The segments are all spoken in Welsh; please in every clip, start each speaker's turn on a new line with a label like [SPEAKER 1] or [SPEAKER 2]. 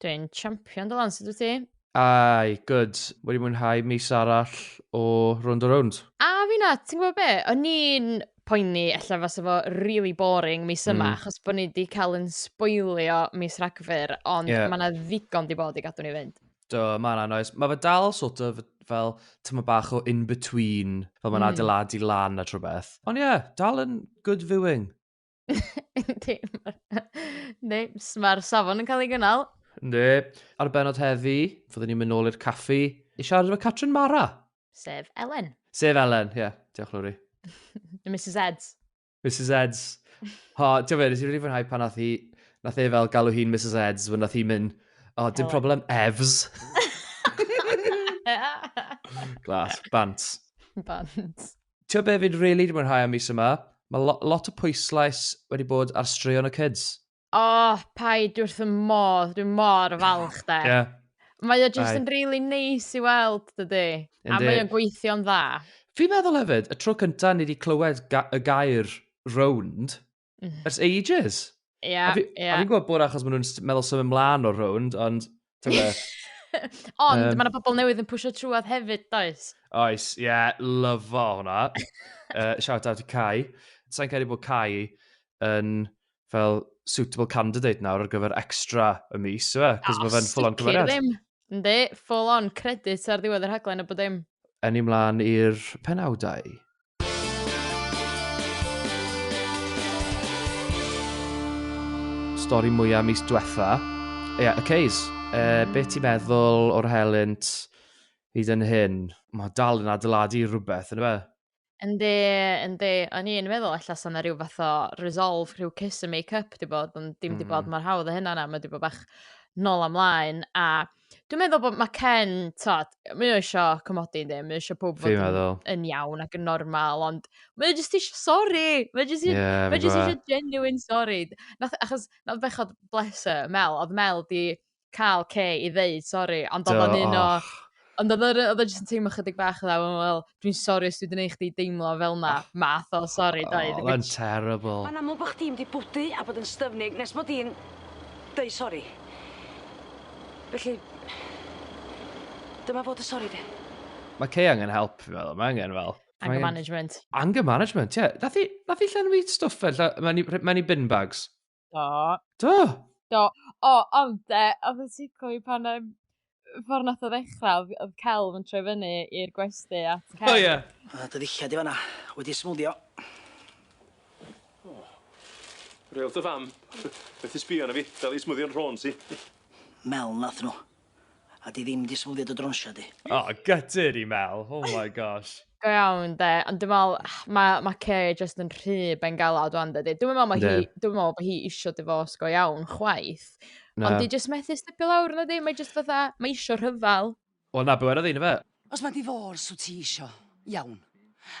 [SPEAKER 1] Dwi'n champion dy lan, sut wyt ti? Ai, good. Wedi mwynhau mis arall o Round a Round. A fi na, ti'n gwybod be? O'n i'n poeni ella fasa fo really boring mis yma, mm. achos bod ni wedi cael yn sboilio mis rhagfyr, ond yeah. mae yna ddigon di bod i gadw ni fynd. Do, mae yna noes. Mae fe dal sort of fel tyma bach o in-between, fel mae'n mm. adeiladu lan a trwy beth. Ond ie, yeah, dal yn good viewing. Yndi. Yndi. Mae'r safon yn cael ei gynnal. Yndi. Ar y benod heddi, fyddwn ni'n mynd nôl i'r caffi i siarad efo Catrin Mara. Sef Elen. Sef Elen, ie. Yeah. Diolch, Lowri. Mrs Eds. Mrs Eds. Ho, ti'n fe, nes i'n rili fwynhau pan nath hi, nath e fel galw hi'n Mrs Eds, fe nath hi mynd, o, oh, dim problem, Evs. Glas, bant. Bant. ti'n be fi'n really di mwynhau am mis yma? Mae lo lot o pwyslais wedi bod ar straeon y kids. O, oh, paid wrth y modd, dwi'n mor falch da. yeah. Mae o jyst yn really neis i weld, dydy. A mae o'n gweithio'n dda. Fi'n meddwl hefyd, y tro cyntaf ni wedi clywed ga y gair rownd, Mm. Ers ages. Ie, yeah, ie. Yeah. A fi'n gwybod bod achos maen nhw'n meddwl symud ymlaen o'r rownd, ond... ond um, mae yna bobl newydd yn pwysio trwad hefyd, does? Oes, ie, yeah, lyfo hwnna. uh, shout out i Cai. Sa'n cael ei bod Cai yn fel suitable candidate nawr ar gyfer extra y mis, yw e? Cos mae fe'n ffwl o'n cymeriad. Yndi, full on credit ar ddiwedd yr haglen a bod dim. Yn ni mlaen i'r penawdau. Stori mwyaf mis diwetha. Ie, yeah, y Ceys. E, be ti'n meddwl o'r helynt hyd yn hyn? Mae dal yn adeiladu rhywbeth, yn y fe? Yndi yndi o'n i'n meddwl ella 'sa 'na ryw fath o resolve rhyw kiss and make up 'di bod ond dim 'di bod Hmm. mor hawdd â hynna na ma' 'di bo' bach nôl a mlaen a dwi meddwl bo' ma' Ken t'od mae o isio comodi yndi mae o isio powb fod Fi'n yn meddwl. yn iawn ac yn normal ond mae o jyst isio sori mae jyst i- Ie fi'n mae jyst gwbo. isio genuine sori nath achos nath bechod bless her Mel odd Mel 'di cael Kay i ddeud sori, ond oedd o'n un o... Ond oedd o e jyst yn teimlo chydig bach dda, wel, wel, dwi'n sori os dwi'n gwneud chdi deimlo fel na, ah. math o sori, doedd. Oh, mae'n terrible. Mae'n amlwg bod chdi'n di bwdu a bod yn styfnig nes bod i'n dweud sori. Felly, dyma fod y sori di. Mae Kay angen help, fi'n meddwl. Mae angen fel... Anger management. Anger management, ie. Yeah. Nath i, nath i llenwi stwff fe. Mae'n i bin bags. Do. Do? Do. O, ond de, oedd y tico i pan um, ffordd nath o ddechrau, oedd celf yn troi fyny i'r gwesti at Ken. O, ie. A dy ddillad i fanna, wedi smwddio. Real dy fam. Beth i sbio na fi, dal i smwddio'n rhôn si. Mel nath nhw. A di ddim di smwddio dy drwnsio di. O, gytid i Mel. Oh my gosh. Go iawn de, ond dwi'n meddwl, mae ma Kay just yn rhy bengalad o'n dydy. Dwi'n meddwl mae hi, dwi'n meddwl bod hi eisiau difos go iawn, chwaith. No. Ond di just methu stepio lawr, na di, mae just fatha, mae eisiau rhyfel. Wel na, byw ar y ddyn, fe. Os ma divorce wt ti isio, iawn.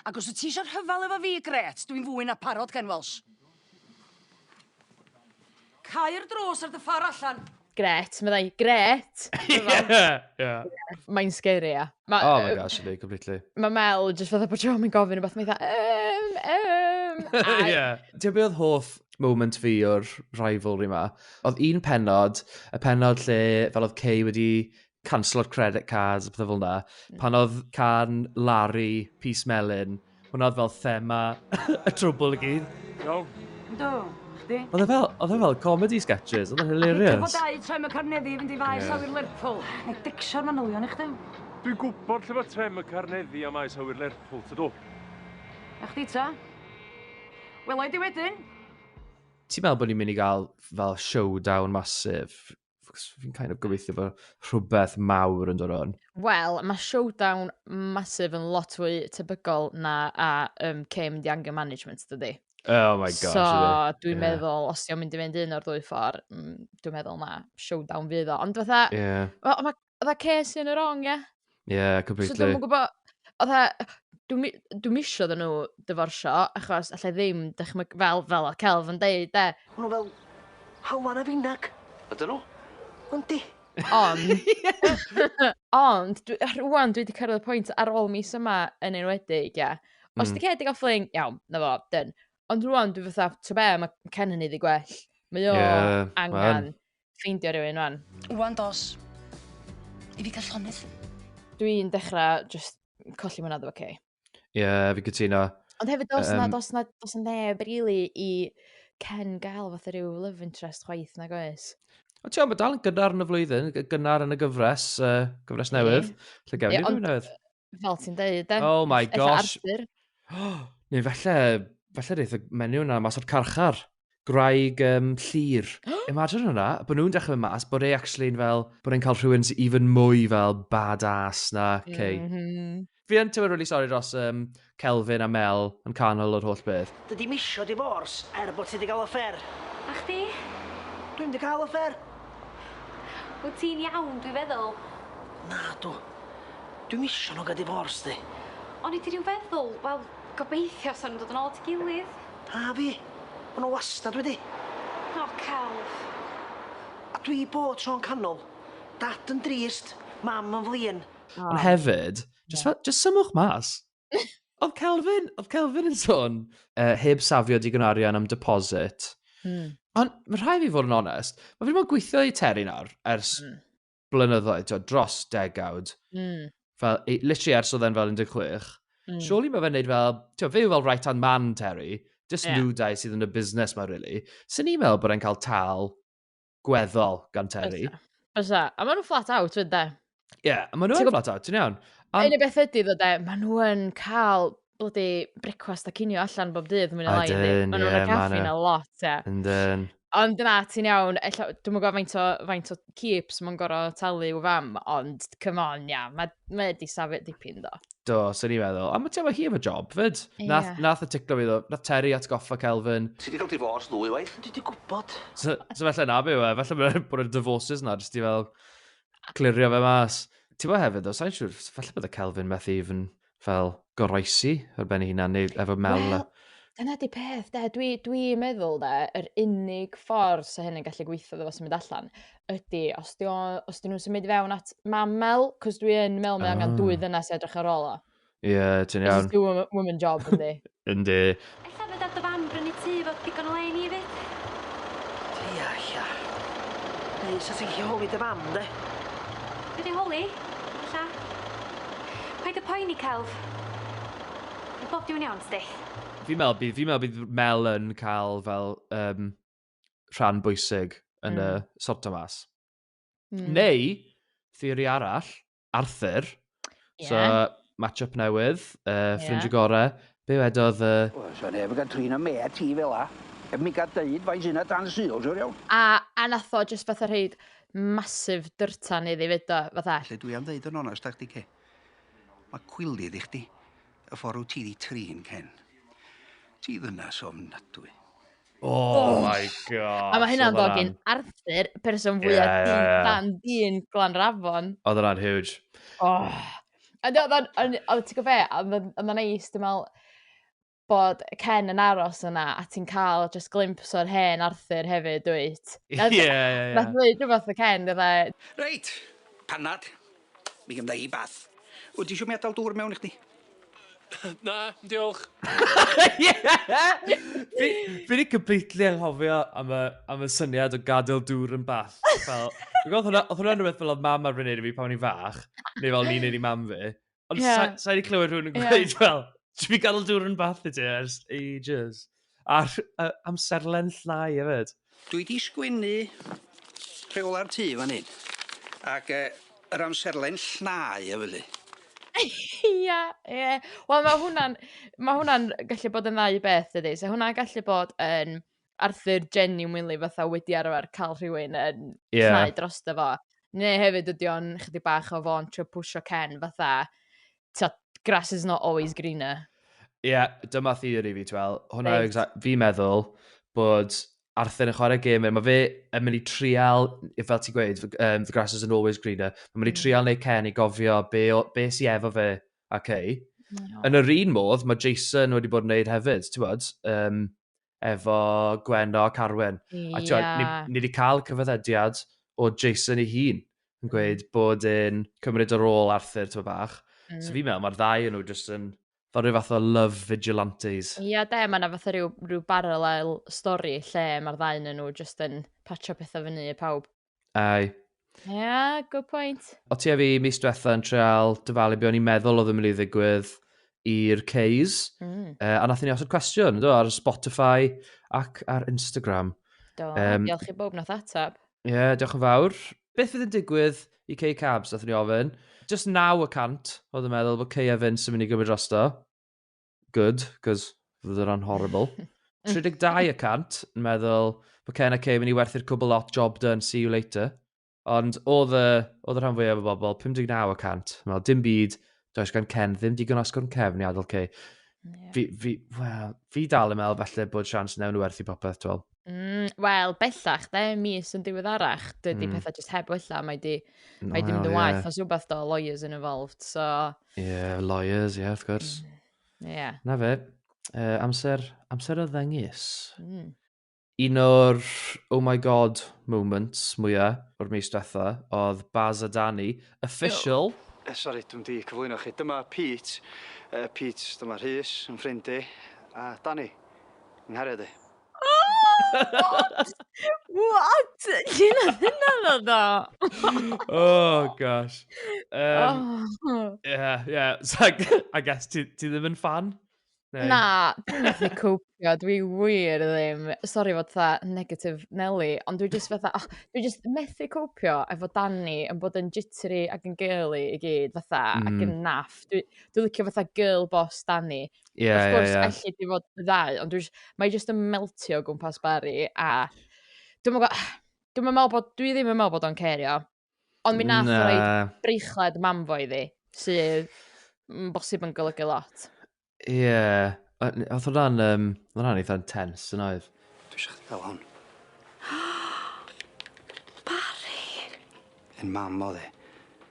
[SPEAKER 1] Ac os wt ti isio rhyfal efo fi, grêt, dwi'n fwy na parod, Ken Welsh. Cau'r drws ar dy ffor allan. Grêt, meddai, grêt! Mae'n scary, ia. Oh my gosh, yndi, completely. Mae Mel jyst fatha bod Siom yn gofyn rhywbeth, mae fatha, um, um. Ti'n beth oedd hoff moment fi o'r rivalry ma? Oedd un penod, y penod lle fel oedd Kay wedi canslo'r credit cards a pethau fel yna. Mm. Pan oedd can Larry, Peace Melin, hwnna oedd fel thema y trwbl i gyd. Do. Do. Chdi? Oedd e fel, oedd e fel comedy sketches, oedd e'n hilarious. Dwi'n dau trem y carneddi i fynd i faes yeah. awyr Lerpwl. Neu dicsio'r manylion i chdi. Dwi'n gwybod lle mae trem y carneddi am maes awyr Lerpwl, ty do. A chdi ta? Wel, oed i wedyn. Ti'n meddwl bod ni'n mynd i gael fel showdown masif fi'n kind of gobeithio bod rhywbeth mawr yn dod o'n. Wel, mae showdown masif yn lot fwy tebygol na a um, came mynd i anger management, dydy. Oh my gosh. So, dwi'n yeah. meddwl, os ti'n mynd i fynd un o'r ddwy ffordd, mm, dwi'n meddwl na, showdown fydd o. Ond fatha, yeah. mae ma, oedd a ces yn y wrong, ie? Ie, completely. So dwi'n gwybod, oedd a, dwi'n dwi misio dyn nhw dyforsio, achos allai ddim, dychmyg, fel, fel oedd Celf yn deud, de. O'n nhw fel, hawan a finag. Ydyn nhw? Ond di. Ond, ond, dwi, rwan dwi wedi cyrraedd y pwynt ar ôl mis yma yn enwedig, ie. Os mm. di Cedi gael ffling, iawn, na fo, dyn. Ond rwan dwi fatha, to be, mae Ken yn ei gwell. Mae o yeah, angen. Man ffeindio rhywun rwan. Wan dos i fi cael llonydd. Dwi'n dechrau just colli mwynhad efo Kay. Ie, yeah, fi cytuno. Ond hefyd, dos um, na, dos na, dos na neb really i Ken gael fath o rhyw love interest chwaith nag oes. O ti'n meddwl, dal yn gynnar yn y flwyddyn, gynnar yn y gyfres, uh, gyfres newydd. Ie, yeah, ond, newydd. Fel ti'n deud, de? Oh my gosh. Arthur. Neu falle, falle reith y menyw yna mas o'r carchar. Graig um, llir. Imagine hwnna, bod nhw'n dechrau mynd mas, bod e actually yn fel, bod e'n cael rhywun sy'n even mwy fel badass na Kay. Mm -hmm. Fi yn tywyr really sorry dros um, Kelvin a Mel yn canol o'r holl beth. Dydy misio divorce er bod ti wedi cael affair. A chdi? Dwi'n wedi cael affair. Wyt ti'n iawn, dwi'n feddwl. Na, dw. Dwi'm isio nhw ga'l divorce di. O'n i di ryw feddwl, wel, gobeithio sa nhw'n dod yn ôl at ei gilydd. A fi. Ma' nhw wastad wedi. O, celf. A dwi bob tro'n canol. Dad yn drist, mam yn flin. Ond hefyd, jyst fel, jyst symwch mas. Oedd Kelvin, oedd Kelvin yn sôn. Yy, heb safio digon o arian am deposit. Ond ma' rhai' fi fod yn onest, ma' fi 'di bod yn gweithio i Terry nawr ers blynyddoedd, twa, dros degawd, mm. fel, literally ers oedd e'n fel 16, mm. surely mae fe'n neud fel, twa, fe yw fel right hand man Terry, just yeah. nhw dau sydd yn y busnes mae really. Sy'n ni'n meddwl bod e'n cael tal gweddol gan Terry. Bysa, a maen nhw'n flat out fyd de. Ie, yeah, maen nhw'n flat out, ti'n iawn. Yn y beth ydy ddo de, maen nhw'n cael blydi brecwast a cinio allan bob dydd mwy na lai yndi? Ydyn, Maen nhw'n y ie, caffi ma' 'na 'na. lot, ie. Yndyn. Ond na, ti'n iawn, ella, dwi'm yn gwybod faint o, faint o keeps mae'n gorau talu i'w fam, ond come on, ia, mae ma e di safio dipyn do. Do, sy'n ni'n meddwl. A mae ti'n hi efo job, fyd. Nath, Ie. nath y ticlo fi ddo. Nath Terry atgoffa Kelvin. Ti di cael divorce ddwy waith? Dwi di gwybod. So, so felly na byw e. Felly mae'n bod y divorces na, jyst i fel clirio fe mas. Ti'n bod hefyd, o, sa'n siŵr, felly bod y Kelvin methu even fel goroesi ar ben ei hunan neu efo mel? Wel, dyna di peth de, dwi, dwi meddwl de, yr unig ffordd sy'n hyn yn gallu gweithio ddo fo symud allan ydy, os di, os di nhw'n symud i fewn at mamel, cos dwi yn meddwl mae oh. angen dwy ah. ddynas edrych ar ôl o. Ie, yeah, ti'n iawn. It's a woman job, yndi. yndi. Ella fedar dy fam brynu tŷ efo digon o le i ni 'fyd? Ia, ia. Neu 'sa ti'n gallu holi dy fam, 'de? Fedra i holi, ella. Paid â poeni, celf. Fydd bob dim yn iawn, tydi? Fi'n meddwl bydd, fi'n meddwl bydd Mel yn cael fel um, rhan bwysig yn mm. y sorto mas. Mm. Neu, theori arall, Arthur. Yeah. So, match-up newydd, uh, ffrind yeah. gore. Be wedodd... Uh... Wel, so neb yn gael trin am mea ti fel a. Heb mi gael deud fain sy'n dan syl, siwr iawn. A, a nath o just fatha rhaid masif dyrtan iddi fyd o, fatha. Lle dwi am ddeud yn onest ag di, Ken. Mae cwilydd i chdi, y ffordd ti di trin, Ken. Ti ddynas ofnadwy. Oh, oh my god. A mae hynna'n ddod gyn Arthur, person fwy yeah, yeah, yeah. dan dyn Glanrafon. Oedd hwnna'n huge. Oh. A ti'n gwybod fe, oedd o'n neis, dwi'n meddwl, bod Ken yn aros yna a ti'n cael just glimps o'r hen Arthur hefyd, dwyt? Ie, ie, ie. Nath ddweud rhywbeth o Ken, dweud. Reit, panad. Mi gynna i bath. Wyt ti isio mi adal dŵr mewn i chdi? Na, diolch. fi, fi wedi completely anghofio am y, am y syniad o gadael dŵr yn bath. Fel, fi'n gwybod hwnna, oedd hwnna'n rhywbeth fel oedd mam arfer wneud i fi pan o'n i'n fach, neu fel ni'n neud i mam fi. Ond yeah. sa, sa wedi clywed rhywun yn gweud, yeah. fel, dwi wedi gadael dŵr yn bath i ti ers ages. A'r uh, amserlen llnau hefyd. Dwi di sgwennu rheola'r tŷ fan hyn. Ac uh, yr amserlen llnau hefyd. Ia, ia. Wel, mae hwnna'n ma hwnna gallu bod yn ddau beth, ydy. So hwnna'n gallu bod yn Arthur genuinely fatha wedi arfer cael rhywun yn yeah. llnau dros dy fo. Neu hefyd ydy o'n chydig bach o fo'n trio pwysio Ken fatha, tyd, grass is not always greener. Ie, yeah, dyma theori fi, twel. Hwna, exact, fi meddwl bod Arthur yn chwarae gêm, mae fe yn mynd i trial, fel ti'n gweud, um, the grass is an always greener, mae'n mynd i mm. trial neu Ken i gofio be, be si efo fe ac ei. No. Yn yr un modd, mae Jason wedi bod yn neud hefyd, ti'n bod? Um, efo Gwenno ac Arwen. Yeah. A ti'n ni, ni wedi cael cyfaddediad o Jason ei hun yn mm. gweud bod yn cymryd yr ôl Arthur ti'n bach. Mm. So fi'n meddwl mae'r ddau yn nhw jyst yn fel rhyw fath o love vigilantes. Ia yeah, de, mae yna fath o rhyw, rhyw barallel stori lle mae'r ddau yn nhw jyst yn patio pethau fyny i pawb. Ai. Ia, yeah, good point. O ti a fi mis diwetha yn treol dyfalu be o'n i'n meddwl oedd yn mynd i ddigwydd i'r Ceys. Mm. Uh, a nath ni osod cwestiwn, do, ar Spotify ac ar Instagram. Do, um, diolch i bob nath atab. Ie, yeah, diolch yn fawr. Beth fydd yn digwydd i Cei Cabs, nath ni ofyn. Just 9 y cant, oedd yn meddwl bod Cei a Vince yn mynd i gymryd drosto. good, cos fydde hwnna'n horrible. 32 y cant, yn meddwl, mae Ken a Kay mynd i werthu'r cwbl lot, job done, see you later. Ond oedd y, oedd y rhan fwyaf o bobl, 59 y cant, yn meddwl, dim byd, does gan Ken ddim digon asgwrn cefn i adael Kay. Yeah. Fi, fi, well, fi dal yn meddwl falle bod sians newn nhw werthu popeth, dwi'n Mm, Wel, bellach, de, mis yn diweddarach, dydy mm. pethau jyst heb wella, mae di, no, mae di mynd yn waith, yeah. os rhywbeth do, lawyers yn involved, so... Yeah, lawyers, yeah, of course. Mm. Yeah. Na fe, uh, amser, amser o ddengis. Mm. Un o'r oh my god moments mwyaf o'r mis diwetha oedd Baz a Danny, official. No. Eh, sorry, dwi'n di cyflwyno chi. Dyma Pete. Uh, Pete, dyma Rhys, yn ffrind i. A Danny, nghariad i. What? What? Dyna hynna'n oedd o. oh, gosh. Um, oh. Yeah, yeah. So, I guess ti, ti ddim yn fan? Neu? Na, dwi'n methu cwpio, dwi wir ddim, sori fod tha negative Nelly, ond dwi just fatha, oh, dwi just methu cwpio efo Danny yn bod yn jittery ac yn girly i gyd, fatha, mm. ac yn naff. Dwi, dwi licio fatha girl boss Danny, Ie, Of ie, course, ie. elli di fod y ddau, ond dwi jyst- mae jyst yn meltio o gwmpas Barry, a dwi'n meddwl, dwi'n meddwl bod, dwi ddim yn meddwl bod o'n cerio, ond mi nath o reid Na. breichlet mam fo iddi, sydd yn bosib yn golygu lot. Ie. O- n- Oedd hwnna'n, um, hwnna'n eitha intense yn oedd. Dwi eisiau chdi gael hwn. Yn mam oedd e.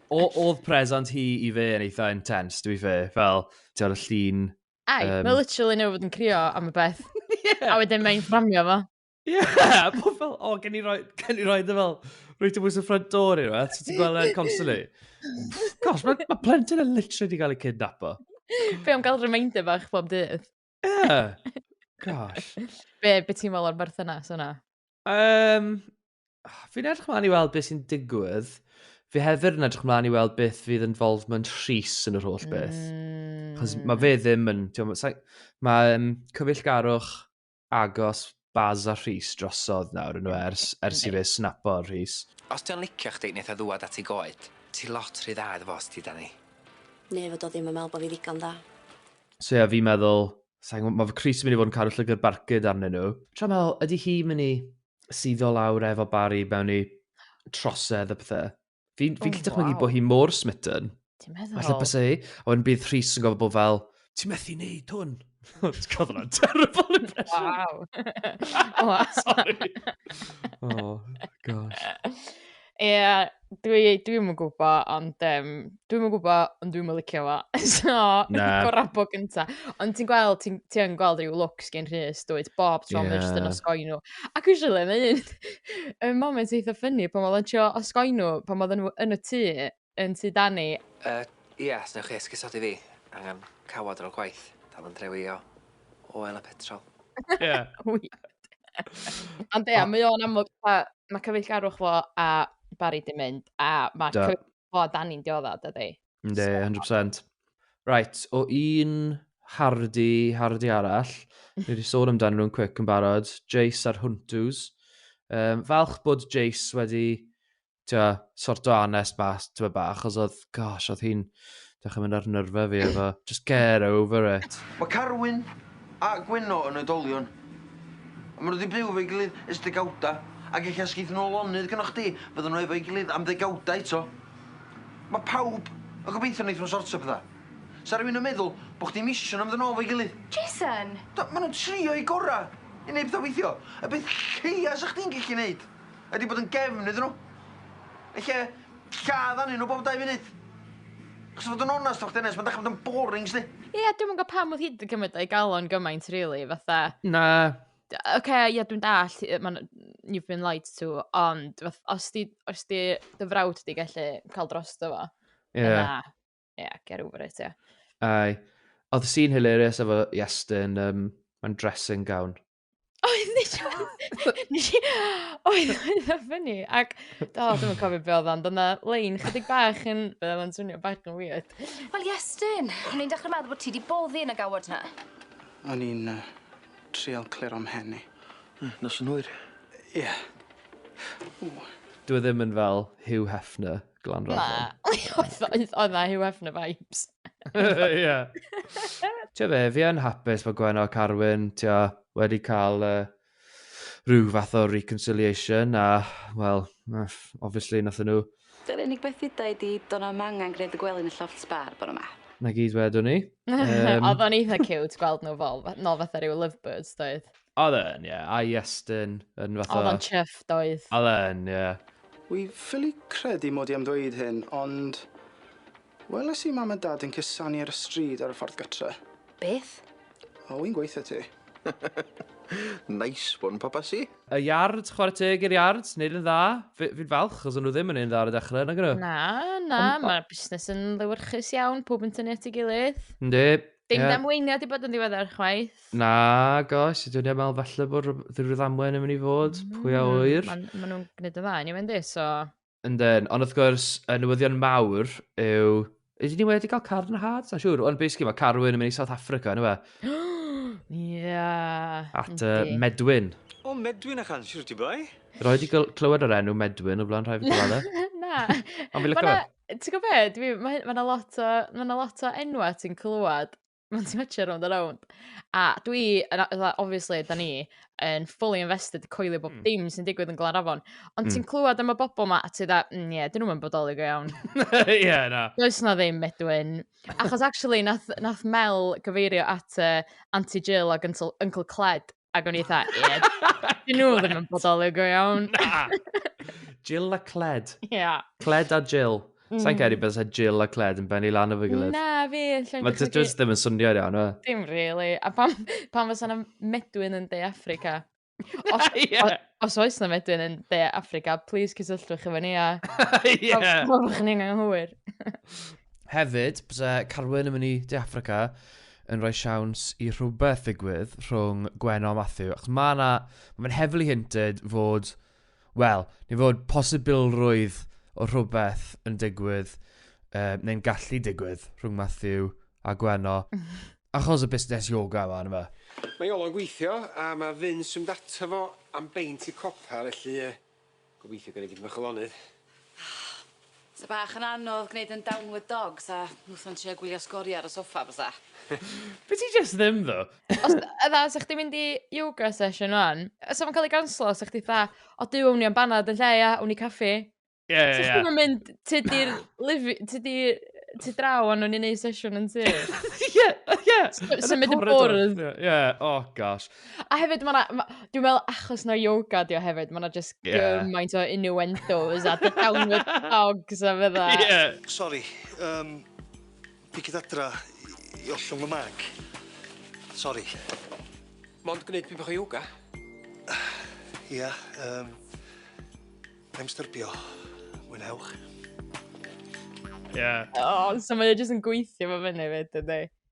[SPEAKER 1] O, oedd present hi i fe yn eitha intense, dwi fe, fel, ti'n o'r llun... Ai, um... mae literally neu fod yn crio am y beth. yeah. A wedyn mae'n fframio fo. Ie, yeah, bod fel, o, gen i roi, gen i roi dy fel, rwy'n ti'n bwys y ffrant dod i'r fath, ti'n gweld e'n constantly. Gosh, mae ma plentyn yn literally wedi cael ei cydnapo. Fe am gael reminder fach bob dydd. Ie, yeah. gosh. Be, be ti'n fel o'r berthynas yna? Um, Fi'n edrych mlaen i weld beth sy'n digwydd. Fi hefyd yn edrych mlaen i weld beth fydd involvement Rhys yn yr holl beth. Mm. Cos mae fe ddim yn... Mae um, cyfeillgarwch agos Baz a Rhys drosodd nawr yn ers, ers i fe snapo Rhys. Os di'n licio chdi, neith o ddwad at i goed. Ti lot rhy dda iddo fo os ti da ni. Neu fod o ddim yn meddwl bod fi ddigon dda. So ie, yeah, fi'n meddwl, mae fy Cris yn mynd i fod yn cadw llygr barcud arnyn nhw. Tra meddwl, ydy hi mynd i suddo lawr efo Barry mewn i trosedd a pethau. Fi'n fi oh, gallu dychmygu wow. bod hi mor smitten. Ti'n meddwl? Falle bys ei, a wedyn bydd Rhys yn gofod bod fel, ti'n methu neud hwn. Ti'n cofod hwnna'n terrible impression. Wow. wow. Sorry. oh, gosh. Ie, dwi dwi'm yn gwbo, ond yym, dwi'm yn gwbo, ond dwi'm yn licio fo. So, Na. gorau bo gynta. Ond ti'n gweld, ti'n ti yn gweld rhyw lwcs gen Rhys, dwyt, bob tro yeah. mae jyst yn osgoi nhw. Ac usually, mae un y moment eitha ffynnu pan oedd o'n trio osgoi nhw, pan oedd nhw yn y tŷ, yn tŷ Dani? Yy, ia, os newch chi esgusodi fi. Angen cawod ar ol gwaith. Dal yn drewi o oel a petrol. Ie. Ond ia, mae o'n amlwg, mae cyfeillgarwch fo a Barry di mynd, a mae cyfeillgarwch fo a Dani'n diodda, dydy? Ynddi, 100%. Right, o un hardi, hardi arall, ni wedi sôn amdano nhw'n quick yn barod, Jace a'r Huntws. Um, falch bod Jace wedi twa, sort o anest mas, twa bach, os oedd, gosh, oedd hi'n dechrau mynd ar nyrfa fi efo, just get over it. Mae Carwyn a Gwenno yn oedolion. A maen nhw wedi byw efo'i gilydd ers degawdau, ac ella os geith nhw lonydd gynnoch chdi, fyddan nhw efo'i gilydd am ddegawdau eto. Mae pawb yn gobeithio wneith nhw sortio pethau. Sa rhywun yn meddwl bod chdi'n misio nhw mynd yn ôl efo'i gilydd. Jason! Do, maen nhw'n trio'u gorau i wneud pethau weithio. Y peth lleia sa chdi'n gallu wneud Ydi bod yn gefn iddyn nhw. Ella lladd anyn nhw bob dau funud. Achos fod yn onast efo chdi Anest, mae'n dechrau bod yn boring sdi. Ie, yeah, dwi'n mwyn gwybod pam oedd hi wedi cymryd o'i galon gymaint, really, fatha. Na. Oce, okay, ie, yeah, dwi'n dall, mae'n you've been lied to, ond fath, os di, os di dy frawd di gallu cael dros dy fo, ie, yeah. yeah, get over it, ie. Yeah. Ai. Oedd sy'n hilarious efo Iestyn, um, mae'n dressing gown. Oedd, nes i... Nes i... Oedd, oedd o ffynnu. Ac, do, dwi'n cofio beth oedd ond yna lein chydig bach yn... Fe oedd o'n swnio bach yn weird. Wel, Iestyn, o'n i'n dechrau meddwl bod ti wedi boddi yn y gawod na. O'n i'n uh, trial clir o'm hen i. Nos yn hwyr. Ie. Yeah. Dwi e ddim yn fel Hugh Hefner. Glan Rhaglan. Na, oedd oedd na Hugh Hefner vibes. Ie. Ti'n be, fi yn hapus bod Gwen a Carwyn tia, wedi cael uh, rhyw fath o reconciliation a, wel, obviously, nath nhw... Dy'r unig beth dda i di, do'n am angen gwneud y gwely yn y lloft sbar bod yma. Na gyd wedwn ni. Um... Oedd o'n eitha cute gweld nhw fel, no fatha rhyw lovebirds, doedd? Oedd e'n, ie. Yeah. A Iestyn yn fath o... Oedd o'n chuff, doedd. Oedd e'n, ie. Yeah. Wi ffili credu mod i am ddweud hyn, ond... Weles i mam a dad yn cusanu ar y stryd ar y ffordd gytre. Beth? O, wi'n gweithio ti. nice one, Papasi. Y Yards, chwarae teg i'r Yards, neud yn dda. Fi'n falch, os o'n nhw ddim yn neud yn dda ar y dechrau, nag nhw? Na, na, mae busnes yn lywyrchus iawn, pob yn tynnu at ei gilydd. Ynddi. Dim yeah. damweiniau wedi bod yn ddiweddar chwaith. Na, gosh, dwi'n ei meddwl falle bod rhyw ddamwen yn mynd i fod, mm, pwy a hmm, wyr. Maen ma nhw'n gwneud y dda, ni wedi, so... Yndyn, ond wrth gwrs, y newyddion mawr yw... Ydyn ni wedi cael car yn y hard? Na siwr, ond basically mae Carwyn yn mynd i South Africa, yna fe? Ia. At uh, Medwyn. O, Medwyn a chan, siwr ti boi? Roi di clywed o'r enw Medwyn o blaen rhai fi gwybod e? Na. Ond fi lyco fe. Ti'n gwybod be? Dwi... mae hyn... mae 'na lot o... mae 'na lot o enwau ti'n clywed mewn siartio rownd a rownd. A dwi yn a- fatha obviously 'dan ni yn fully invested i coelio bob... Mm. ...dim sy'n digwydd yn Glanafon. Ond Mm. ti'n clywed am y bobl 'ma a ti fatha, mm, ie, 'dyn nhw'm yn bodoli go iawn. Ie, na. Does 'na ddim Medwyn. Achos actually nath nath Mel gyfeirio at yy Auntie Jill ac Uncle Uncle Cled Ac o'n i eitha, ie, dyn nhw ddim yn bodoli go iawn. Na! Jill a Cled. Ie. Yeah. Cled a Jill. Mm. Sa'n cael ei bys a Jill a Cled yn benni lan o fy gilydd. Na, fi. Mae ti just ddim yn swnio iawn, yma. Dim really. A pam, pam fysa na medwyn yn De Africa? Os, yeah. os oes na medwyn yn De Africa, please cysylltwch efo ni a... Ie. Probwch ni'n anghywir. Hefyd, bysa Carwyn yn mynd i De Africa, yn rhoi siawns i rhywbeth ddigwydd rhwng Gwenno a Matthew, achos mae yna, mae'n heavily hinted fod, wel, neu fod posibilrwydd o rhywbeth yn digwydd, uh, neu'n gallu digwydd rhwng Matthew a Gwenno, achos y busnes yoga yma, yna fe. Mae Iolo'n gweithio, a mae Vince yn mynd ato fo am beint i copa, felly, uh, Gobeithio gei di dipyn bach o lonydd. Sa bach yn anodd gneud yn downward dog sa Nuthan trio gwylio sgoria ar y soffa bysa. Be ti jyst ddim ddo? Os fatha sa chdi mynd i yoga session ŵan, a sa fo'n ca'l ei ganslo sa chdi fatha o Duw awn ni am banad yn lle ia? Awn ni i caffi. Ie ie ie. Sa chdi'm yn mynd tŷ di'r lifi- tŷ di tŷ draw a newn ni neud sesiwn yn tŷ. Ie ie. Symud yn bwrw. Ie o gosh. A hefyd, mae yna... Dwi'n meddwl achos na yoga di o hefyd, mae yna just gymaint o innuendos a the downward dogs a fydda. Ie. Sori, um, fi gyda dra i ollwng y mag. Sori. Mond gwneud pyn bach o yoga? Ia, um, I'm styrbio. Mwynhewch. Ie. Yeah. O, oh, so mae jyst yn gweithio fo fyny fyd, ydy.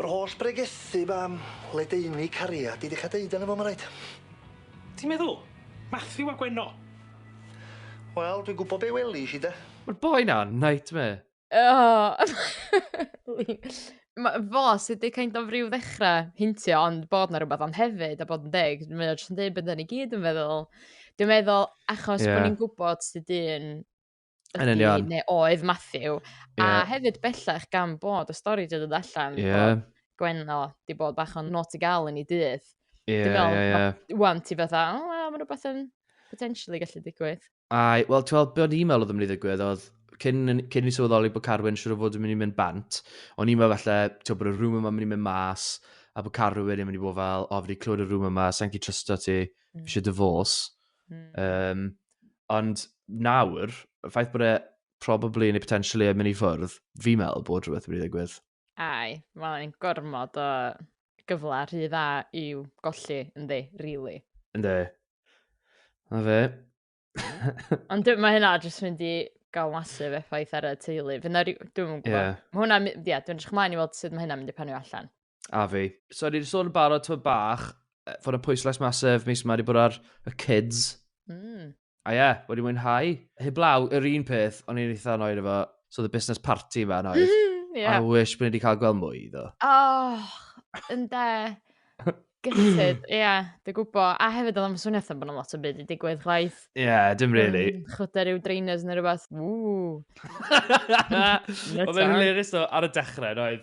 [SPEAKER 1] Yr holl bregethu 'ma am ledaenu cariad, di ddechra deud arno fo ma' raid. Ti'n meddwl? Matthew a Gwenno? Wel, dwi'n gwbo be' welish i de. Ma'r boi 'na yn nightmare. Oh ma fo sy di kind of ryw ddechra hintio ond bod na rwbath ond hefyd a bod yn deg mae o jyst yn deud be' 'dan ni gyd yn feddwl dwi'n meddwl achos bo' ni'n gwbod sud un yn union. Neu oedd Matthew. Yeah. A hefyd bellach gan bod y stori wedi dod allan. Yeah. Bod Gwenno di bod bach o'n not i gael yn ei dydd. Ie, ie, ie. Wan ti fatha, o, oh, mae rhywbeth yn potentially gallu digwydd. Ai, wel, ti'n meddwl, be o'n i'n meddwl oedd yn mynd i ddigwydd oedd, cyn, cyn i ni sylweddoli bod Carwyn siwr o fod yn mynd i mynd bant, o'n i'n meddwl falle, ti'n meddwl bod y rhywun yma'n mynd i mynd mas, a bod Carwyn yn mynd i bod fel, o, fi wedi clywed y rhywun yma, sa'n gallu trysto ti, fi eisiau mm. dyfos. Mm. Um, ond nawr, y ffaith bod e probably neu potentially yn mynd i ffwrdd, fi meddwl bod rhywbeth wedi ddigwydd. Ai, mae'n ein gormod o gyfle rhy dda i'w golli, ynddi, really. Ynddi. Na fe. Ond mae hynna jyst mynd i gael masif effaith ar y teulu. Fyna, dwi'n gwybod. Yeah. Mae hwnna, ie, yeah, dwi'n edrych ymlaen i weld sut mae hynna'n mynd i panio allan. A fi. So, ni wedi sôn yn barod tywed bach, fod y pwyslais masif mis yma wedi bod ar y kids. Mm. A ie, yeah, wedi mwynhau. Heblaw, yr un peth, o'n i'n eitha annoyed efo, so the business party yma annoyed. Mm, yeah. I wish bod ni wedi cael gweld mwy iddo. Oh, yn de. Gyllid, ie, yeah, dwi'n gwybod. A hefyd oedd am swnio bod yna lot o byd i digwydd chwaith. Ie, yeah, dim really. Um, Chwta rhyw drainers neu rhywbeth. Ww. Oedd e'n hilarious o ar y dechrau, oedd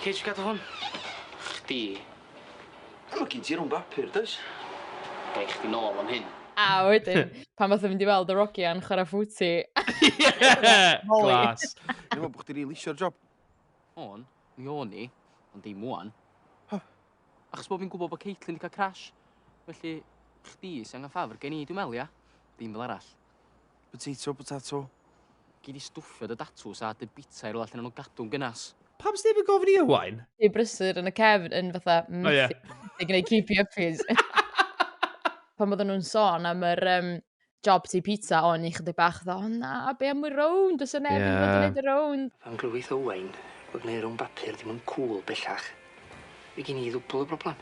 [SPEAKER 1] Cei di gadw hwn? Chdi. Wel ma gin ti run bapur does? Gai chdi nôl am hyn? A wedyn pan fatha mynd i weld yr ogia'n chwara footy. Glas. Dwi'n meddwl bod chdi rili isio'r job. O'n, mi o'n i, ond ddim ŵan. Achos bod fi'n gwybod bod Caitlin 'di cael crash. Felly, chdi sy'n angen ffafr gen i, dwi'n meddwl, ia? Dim fel arall. Potato, potato. Gei di stwffio dy datws a dy bita i rywle lle nawn nhw gadw'n gynas. Pam sneb yn gofyn i Owain? Dy brysur yn y cefn yn fatha methu yn gwneud creepy yuppies. Pan oedden nhw'n sôn am yr um, job ti pizza, o'n i chydig bach dda, o na, be am y rownd, os yna neb yn fod yn gwneud y rownd. Pan glywith Owain bod gwneud rownd bapur ddim yn cool bellach, fe gyn i ddwbl y broblem.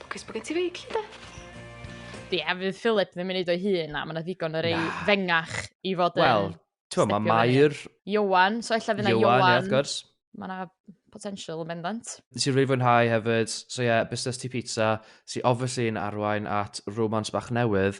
[SPEAKER 1] Lwcus bod gen ti feig, lle de? Ie, yeah, fydd Philip ddim yn neud o'i hun na, mae yna ddigon o rei Na. fengach i fod yn... Wel, ti'n mae Mair... Iwan, so ella fyna Iwan. Iwan, wrth gwrs. Mae yna potential yn bendant. Nes i rili fwynhau hefyd, so ie, yeah, busnes ti pizza, sy'n obviously yn arwain at romance bach newydd,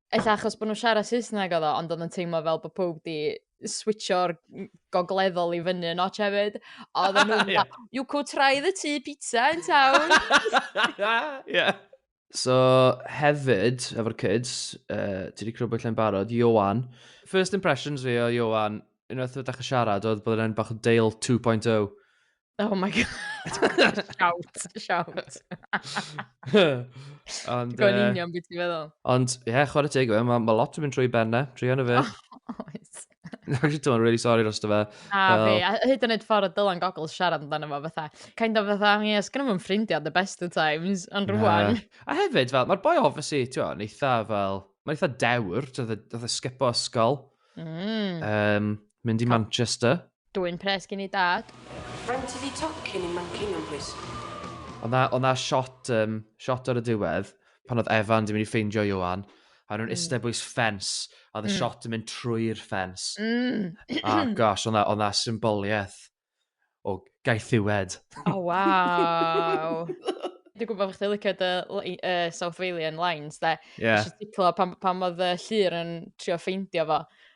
[SPEAKER 1] ella achos bod nhw'n siarad Saesneg oedd o, ond oedd yn teimlo fel bod pob di switcho'r gogleddol i fyny yn ots hefyd. Oedd yn nhw'n yeah. you could try the tea pizza in town. yeah. So, hefyd, efo'r kids, uh, ti wedi crybwyll e'n barod, Johan. First impressions fi o Johan, unwaith ydych chi siarad, oedd bod e'n bach o Dale 2.0. Oh my god. shout, shout. ond... Ti'n gwybod union beth ti'n feddwl? Ond, ie, yeah, chwarae teg fe, mae ma lot yn mynd trwy ben na, trwy hynny fe. Oh, oes. Actually, dwi'n really sorry dros dy fe. A fi, a hyd yn oed ffordd o Dylan Goggles siarad amdano fo fatha. Kind of fatha, ie, yeah, sgan nhw'n ffrindiau the best of times, ond rwan. A hefyd, fel, mae'r boi obviously, ti'n gwybod, yn eitha fel, mae'n eitha dewr, ti'n gwybod, sgipo ysgol. Mm. Um, mynd i Manchester. Dwyn pres gin i dad. Faint ydi tocyn i Manceinion plis? Oedd 'na oedd 'na shot yym shot ar y diwedd pan oedd Evan 'di mynd i ffeindio Ioan a o'n nhw'n iste bwys ffens a oedd y shot yn mynd trwy'r ffens. A gosh oedd 'na oedd 'na symboliaeth o gaethiwed. O waw! Dwi'n gwybod bod chdi'n licio dy li- yy South Walian lines de. Ie. Nes i sticlo pan pan oedd y llun yn trio ffeindio fo.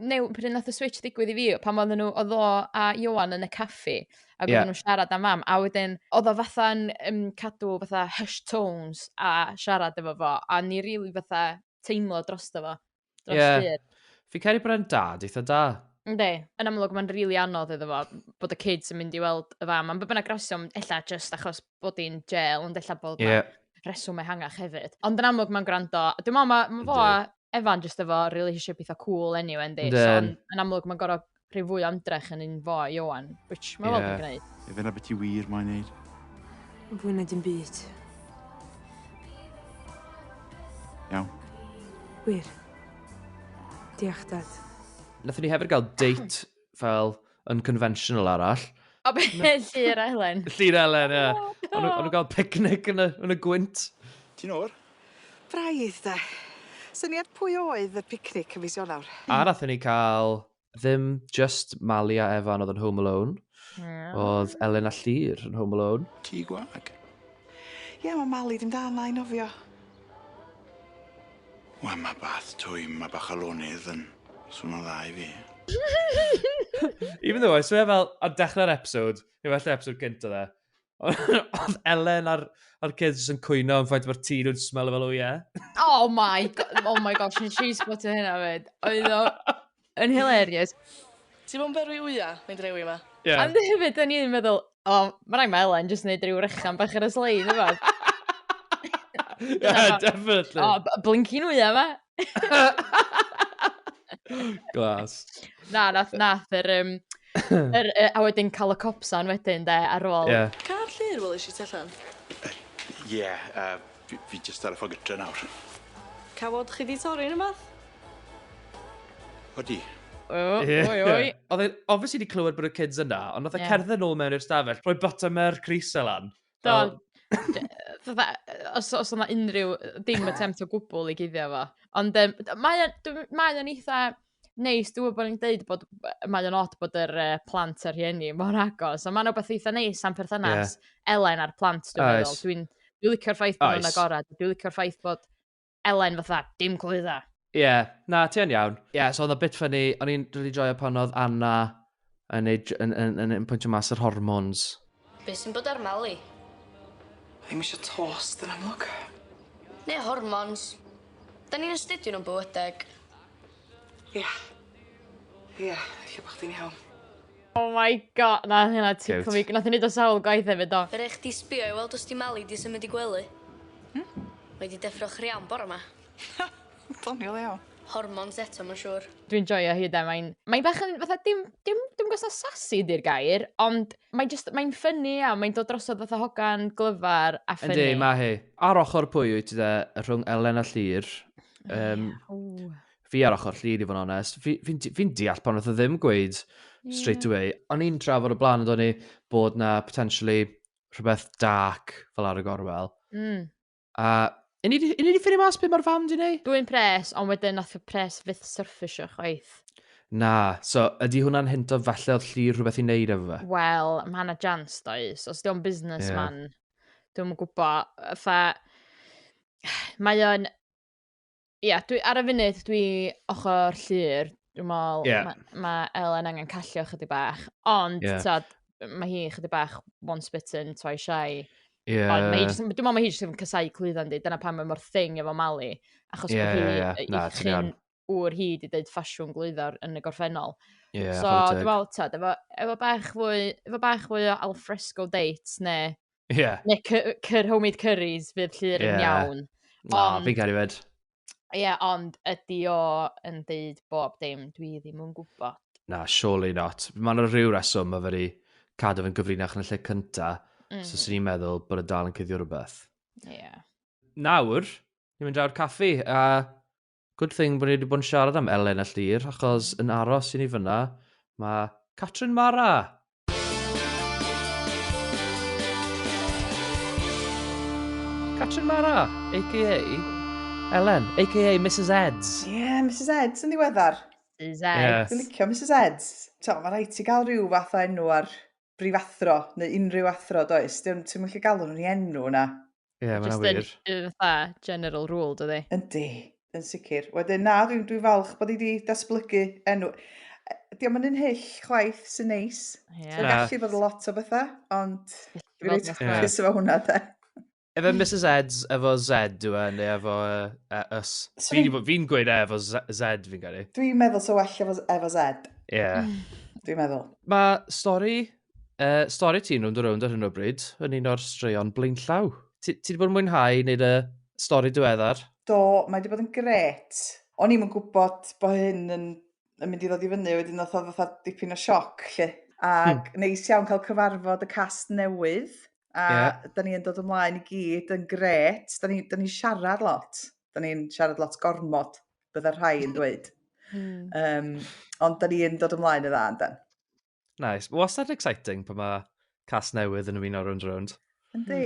[SPEAKER 1] new- pryd nath y switch ddigwydd i fi, pan oedden nhw, oedd o a Ioan yn y caffi, ac Ie. oedden nhw'n siarad am mam, a wedyn, oedd o fatha'n um, cadw fatha hush tones a siarad efo fo, a ni rili fatha teimlo drosto fo, dros Ie. yeah. Fi cael bod e'n dad eitha da. Ynddi, yn amlwg mae'n rili anodd iddo fo bod y kids yn mynd i weld y fam, am bod bynnag rheswm, ella just achos bod hi'n jail, ond ella bod Ie. yeah. reswm ehangach hefyd. Ond yn amlwg mae'n gwrando, a dwi'n meddwl mae ma fo a Evan jyst efo relationship eitha cool anyway, yndi? So, yn, yn amlwg, mae'n gorau rhyw fwy o ymdrech yn un fo, Iowan, which mae'n yeah. weld yn gwneud. Efe na beth i wir mae'n neud. Fwy na dim byd. Iawn. Wir. Diolch, Dad. Nathon ni hefyd gael date fel yn conventional arall. O, be, Llyr Elen? Llyr Elen, ie. Yeah. Oh, no. O'n nhw'n cael picnic yn y, yn y gwynt. Ti'n o'r? Braidd, da. Syniad pwy oedd y picnic yn fis Ionawr? A nathon ni cael ddim just Mali a Evan oedd yn Home Alone. Yeah. Oedd Elen a Llyr yn Home Alone. Ti gwag? Ie, yeah, mae Mali dim da na i nofio. Wel ma bath twym ma bach o lonydd yn swno dda i fi. Even though I swear fel ar dechrau'r episode, neu well episode gynt oedd e, oedd Elen a'r, ar kids yn cwyno am ffaith mae'r tîn yn smell fel o ie. Oh my, oh my gosh, nes i sbotio hynna fyd. Oedd o... Yn hilarious. Ti'n bod yn berwi wya, mynd rewi yma? Yeah. Am hefyd, da ni'n meddwl, o, oh, mae'n rhaid mae Elen jyst wneud rhyw rechan bach ar y slein, yma. yeah, definitely. O, oh, blinkin wya yma. Glas. Na, nath, nath, yr, um, yr, uh, a wedyn cael y copsan wedyn, de, ar ôl. Yeah. Ca'r llyr, wel, eisiau ti allan? Ie, yeah, uh, Fi fi jyst ar y ffor gytre nawr. Cawod chi 'di torri rwbath? Odi. O, oi, oi. Oedd e obviously 'di clywed bod y kids yna, ond nath e cerdded nôl mewn i'r stafell, rhoi buttermilk crysau lan. Do, os, os yna unrhyw, dim attempt o gwbl i guddio fo. Ond um, mae o'n eitha neis, dwi'n gwybod bod ni'n deud bod, mae o'n od bod yr uh, plant a'r rhieni mor agos, ond mae'n rhywbeth eitha neis am perthynas yeah. Elen a'r plant, dwi'n meddwl. Dwi'n dwi licio'r ffaith bod nhw'n agored, dwi'n licio'r ffaith bod Elen fatha, dim clwydda. Ie, yeah. na, ti'n iawn. Ie, yeah, so oedd o bit ffynnu, o'n i'n rili really joio pan oedd Anna yn ei yn, yn, yn, yn pwyntio mas yr hormones. Be sy'n bod ar Mali? Ddim eisiau tos, dyn amlwg. Neu hormones. Da ni'n astudio nhw'n bywydeg. Ia. Yeah. Ia, yeah, lle bod chdi'n iawn. Oh my god, na hynna ti cwmi. Nath i wneud o sawl gwaith hefyd do. Yr eich di sbio i weld os di Mali di symud i gwely. Hmm? Mae di deffro chriawn bore yma. Doniol iawn. Hormons eto ma'n siŵr. Dwi'n joio hi 'de mae'n mae'n bach yn fatha dim dim dim yn gwbo' os 'a sassy 'di'r gair ond mae jyst mae'n ffyni iawn mae'n dod drosodd fatha hogan glyfar a ffyni. Yndi ma' hi. Ar ochor pwy wyt ti 'de rhwng Elen a Llŷr? Yym fi ar ochor Llŷr i fod yn onest. Fi fi'n fi'n deall pan nath o ddim gweud straight away. O'n i'n trafod o blaen ynddo ni bod 'na potentially rhywbeth dark fel ar y gorwel. Mm. A Yn ni, yn ni wedi ffeindio mas beth mae'r fam di wneud? Dwi'n pres, ond wedyn nath y pres fyth surfisio chwaith. Na, so ydy hwnna'n hint o falle oedd lli rhywbeth i wneud efo fe? Wel, mae hana jans does, os diolch busnes yeah. man, dwi'n gwybod, fa, mae o'n, yeah, dwi, ar y funud dwi ochr llyr. Dwi'n meddwl, yeah. mae ma Elen angen callio chydig bach. Ond, yeah. tod, mae hi chydig bach once bitten, twice shy. Yeah. Ond mae hi just, dwi'n meddwl mae hi jyst yn casau clwyddan di. Dyna pan mae mor thing efo Mali. Achos yeah, bod hi, yeah, yeah. chyn wr hi di dweud ffasiwn glwyddor yn y gorffennol. Yeah, so, dwi'n meddwl, tod, efo, efo, bach fwy, efo bach fwy o alfresco dates, neu Yeah. Neu cyr homemade curries fydd llyr yn iawn. Na, ond... fi'n cael ei fed. Ie, yeah, ond ydy o yn deud bob dim, dwi ddim yn gwybod. Na, surely not. Mae yna rhyw reswm mae wedi cadw fe'n gyfrinach yn y lle cynta, mm -hmm. so sy'n ni'n meddwl bod y e dal yn cyddio rhywbeth. Ie. Yeah. Nawr, ni'n mynd draw'r caffi, a Good thing bod ni wedi bod yn siarad am Elen a Llyr, achos yn aros i ni fyna, mae Catrin Mara! Catrin Mara, a.k.a. Ellen, a.k.a. Mrs Eds. Ie, yeah, Mrs Eds yn ddiweddar. Mrs Eds. Yeah. Dwi'n licio Mrs Eds. To, mae rhaid ti gael rhyw fath o enw ar brif athro, neu unrhyw athro, does? Dwi'n ti'n gallu galw nhw'n enw yna. Ie, mae hynna'n wir. Just yn uh, fatha general rule, dydy? Yndi, yn sicr. Wedyn, na, dwi'n dwi falch bod i wedi datblygu enw. Diolch yn un hyll chwaith sy'n neis. Yeah. Mae'n gallu bod lot o bethau, ond dwi'n rhaid chwys efo hwnna, da. Efo Mrs Eds, efo Z, dwi'n e, neu efo uh, Us. Fi'n fi gweud e efo Z, fi'n gyrru. Dwi'n meddwl so well efo, efo Z. Ie. Yeah. Dwi'n meddwl. Mae stori uh, stori ti'n rownd o rownd ar hyn o bryd, yn un o'r straeon blaenllaw. Ti, ti wedi bod yn mwynhau wneud y stori diweddar? Do, mae wedi bod yn gret. O'n i'm yn gwybod bod hyn yn, yn mynd i ddod i fyny, wedyn oedd oedd fatha dipyn o sioc, lle. Ac hmm. neis iawn cael cyfarfod y cast newydd, a yeah. da ni yn dod ymlaen i gyd yn gret. Da ni, da ni siarad lot, da ni'n siarad lot gormod, bydda rhai yn dweud. Mm. Um, ond da ni'n dod ymlaen y dda, yndan. Nice. Wastad exciting pan mae cas newydd yn ymuno rownd rownd. Yndi.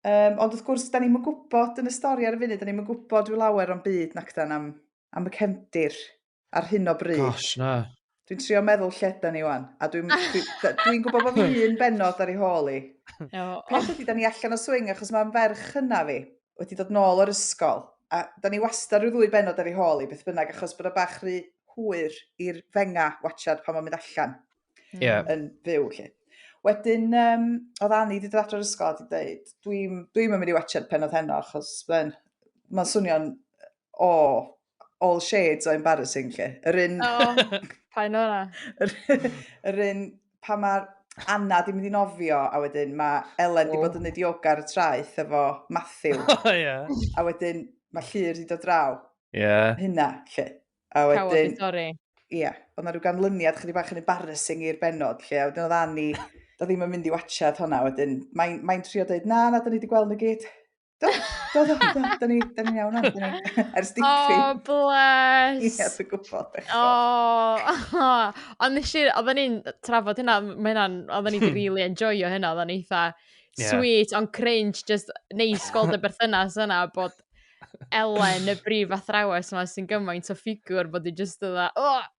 [SPEAKER 1] Um, ond wrth gwrs, da ni'n gwybod yn y stori ar y funud, da ni'n gwybod rhyw lawer o'n byd nac dan am, am y cefndir ar hyn o bryd. Gosh, na. Dwi'n trio meddwl lle da ni wan, a dwi'n dwi, dwi gwybod bod fi un benod ar ei hôl i. Peth ydy, da ni allan o swing achos mae'n ferch hynna fi. wedi dod nôl o'r ysgol, a da ni wastad rhyw ddwy benod ar ei hôl i beth bynnag, achos bod o bach rhy hwyr i'r fenga watchad pan mae'n mynd allan yeah. yn fyw. Lle. Wedyn, um, oedd Annie wedi dod adro'r ysgol a wedi dweud, dwi'n dwi mynd i watchad pen oedd heno, achos mae'n ma swnio'n o, all shades o embarrassing lle. Yr un... O, pa'n o'na. Yr un pa mae'r Anna di mynd i nofio, a wedyn mae Elen oh. di bod yn neud yoga ar y traeth efo Matthew. Oh, yeah. A wedyn mae Llyr di dod draw. Yeah. Hynna, lle. A wedyn... Cawod i torri. Ie. Yeah. Ond na rhyw ganlyniad chydig bach yn embarrassing i'r benod, lle. A wedyn oedd Annie, da ddim yn mynd i watchad hwnna, wedyn mae'n mae trio dweud, na, na, da ni wedi gweld nhw gyd. Do, do, do, do, da ni, da ni'n iawn nawr, da ni, ers dipyn. Oh, bless. Ie, yes, dwi'n gwybod, eich. Oh, oh. ond nes i, oedden ni'n trafod hynna, mae hynna'n, oedden ni'n really enjoyo hynna, oedden ni'n eitha yeah. sweet, ond cringe, just neis gweld y berthynas yna, bod Elen, y brif athrawes yma, sy'n gymaint o ffigwr, bod i just yna, oh,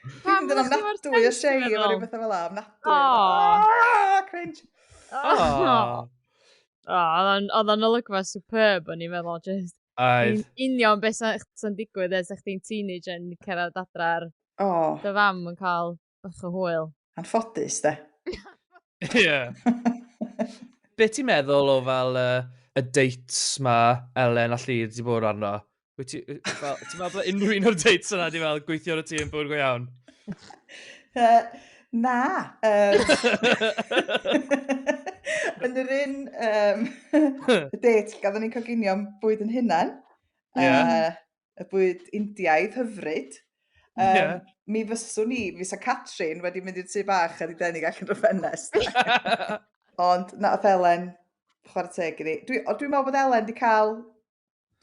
[SPEAKER 1] Dwi'n mynd yn ofnadwy o shame a rhyw bethau fel am ofnadwy. Oh, cringe. Oh. Oedd o'n olygfa superb o'n i'n meddwl, just Oedd. union beth sy'n digwydd ers eich ti'n teenage yn cyrraedd adra'r oh. dy fam yn cael bach o hwyl. Anffodus, de. Ie. Be ti'n meddwl o fel uh, y dates ma Elen a Llyd wedi bod arno? Wyt ti... Ti'n meddwl bod unrhyw un o'r dates yna di fel gweithio ar y tîm bwyd go iawn? Uh, na. Um, yn yr un um, date, gadw ni'n coginio am bwyd yn hunan. Yeah. Uh, y bwyd Indiaidd hyfryd. Um, yeah. Mi fyswn i, fi sa Catrin wedi mynd i'r tu bach a di denig allan o'r ffenest. Ond na, oedd Elen, chwarae teg i ni. Dwi'n dwi meddwl bod Elen di cael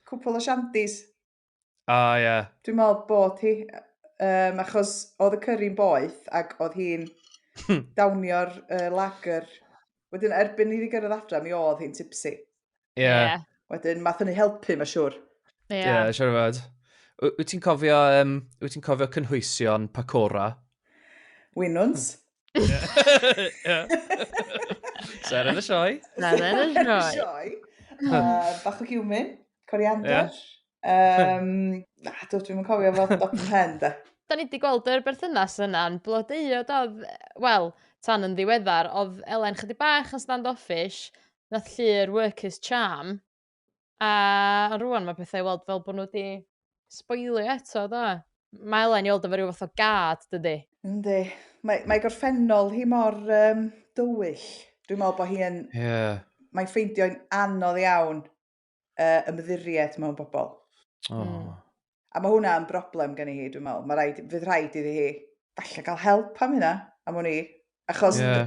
[SPEAKER 1] cwpl o shandies. A, oh, ie. Yeah. Dwi'n meddwl bod hi, um, achos oedd y cyrri'n boeth ac oedd hi'n hmm. dawnio'r uh, lager. Wedyn, erbyn i ni gyrraedd adra, mi oedd hi'n tipsy. Ie. Yeah. yeah. Wedyn, math yn ei helpu, mae siwr. Ie, yeah. yeah, siwr o fod. Wyt ti'n cofio, um, wyt ti'n cofio cynhwysion Pacora? Winwns. Ser yn y sioe. Ser yn y sioe. Bach o giwmin, coriander. Um, na, dwi ddim yn cofio fod dop yn hen, da. Da ni wedi gweld yr berthynas yna'n blodeuo, do? Wel, tan yn ddiweddar, oedd Elen chydig bach yn stand-offish, nath llu'r workers charm, A ond rŵan ma' petha i weld fel bo' nw 'di sboilio eto do? Ma' Elen i weld efo ryw fath o gad dydi? Yndi. Mae mae gorffennol hi mor yym dywyll. Dwi'n me'wl bo' hi yn... Ie. ...mae'n ffeindio'n anodd iawn yy ymddiried mewn bobol. O. Hmm. A ma' hwnna yn broblem gen i hi dwi'n me'wl. Ma' raid fydd rhaid iddi hi falle ga'l help am hynna am wn i. Achos... Ie.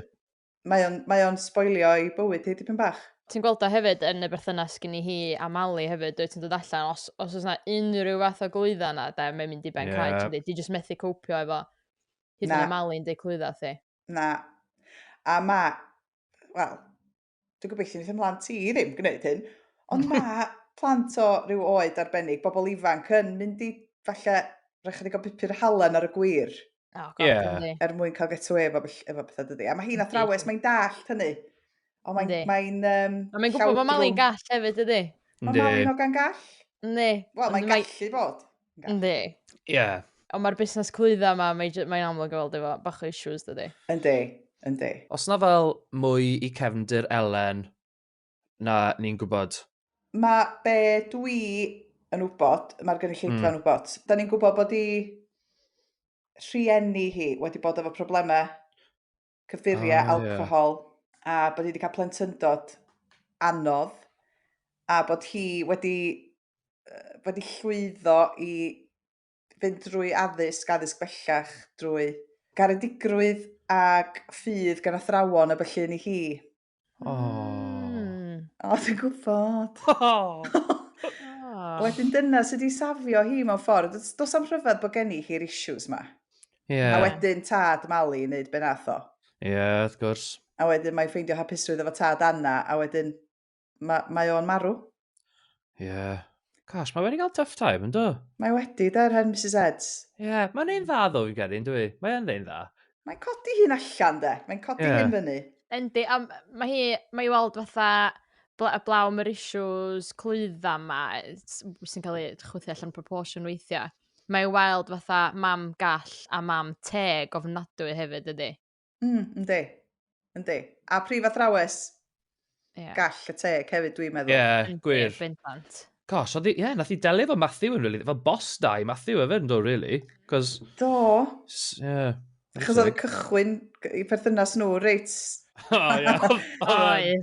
[SPEAKER 1] mae o'n, mae o'n sboilio i bywyd hi dipyn bach. Ti'n gweld o hefyd yn y berthynas gynni hi a Mali hefyd, dwi ti'n dod allan, os, os oes yna unrhyw fath o glwydda yna, da, mae'n mynd i ben yeah. cael, ti'n dweud, just methu copio efo hyd yn y Mali'n dweud clwydda thi. Na. A ma, wel, dwi'n gobeithio wnaeth ymlaen ti ddim gwneud hyn, ond ma plant o rhyw oed arbennig, bobl ifanc yn mynd i falle rhaid chydig o bupur halen ar y gwir. Oh, God, Ie. yndi. er mwyn cael get away efo, bell- efo pethau dydy. A mae hi'n Yndi. athrawes, mae'n dallt hynny. Ond mae'n... Yndi. Mae'n... Um, A mae'n gwybod bod Mali'n gall hefyd, ydy? Mae Yndi. Mali'n hogan gall. Yndi. Wel, mae'n Ond mae- gallu bod. Yndi. Ie. Ond mae'r busnes clwydda yma, mae j- mae'n amlwg o weld efo bach o issues, dydy. Yndi, yndi. Os na fel mwy i cefndir Elen, na ni'n gwybod? Mae be dwi yn wybod, mae'r gynulleidfa mm. yn wybod. Da ni'n gwybod bod i rhieni hi wedi bod efo problemau cyffuriau, oh, alcohol, yeah. a bod hi wedi cael plentyndod anodd, a bod hi wedi, wedi llwyddo i fynd drwy addysg, addysg bellach, drwy garedigrwydd ac ffydd gan athrawon a felly ni hi. O. Mm. O, dwi'n gwybod. O. Ah. Wedyn dyna sydd wedi safio hi mewn ffordd. Does, does am rhyfedd bod gen i hi'r issues ma. Yeah. A wedyn tad Mali yn neud benatho. Ie, yeah, wrth gwrs. A wedyn mae'n ffeindio hapusrwydd efo tad Anna, a wedyn mae, mae o'n marw. Ie. Yeah. Gosh, mae wedi cael tough time, yn do? Mae wedi, da, rhan Mrs Eds. Ie, yeah, mae'n ein dda ddo fi'n credu, yn dwi? Mae'n ein dda. Mae'n codi hyn allan, de. Mae'n codi yeah. hyn fyny. Yndi, a mae hi, mae i weld fatha bla, blaw mae'r issues clwydda ma, sy'n cael ei chwythu allan proportion weithiau. Mae i weld fatha mam gall a mam teg ofnadwy hefyd ydy. Mm, yndi. Yndi. A prif athrawes yeah. gall y teg hefyd, dwi'n meddwl. Ie, yeah, gwir. Bendant. Gosh, oedd, ie, yeah, nath i delio fo Matthew yn, really. Fo boss da i Matthew efe, yn do, really. Cos... Do. Yeah. Chos oedd y cychwyn i perthynas nhw, reit. O, ie.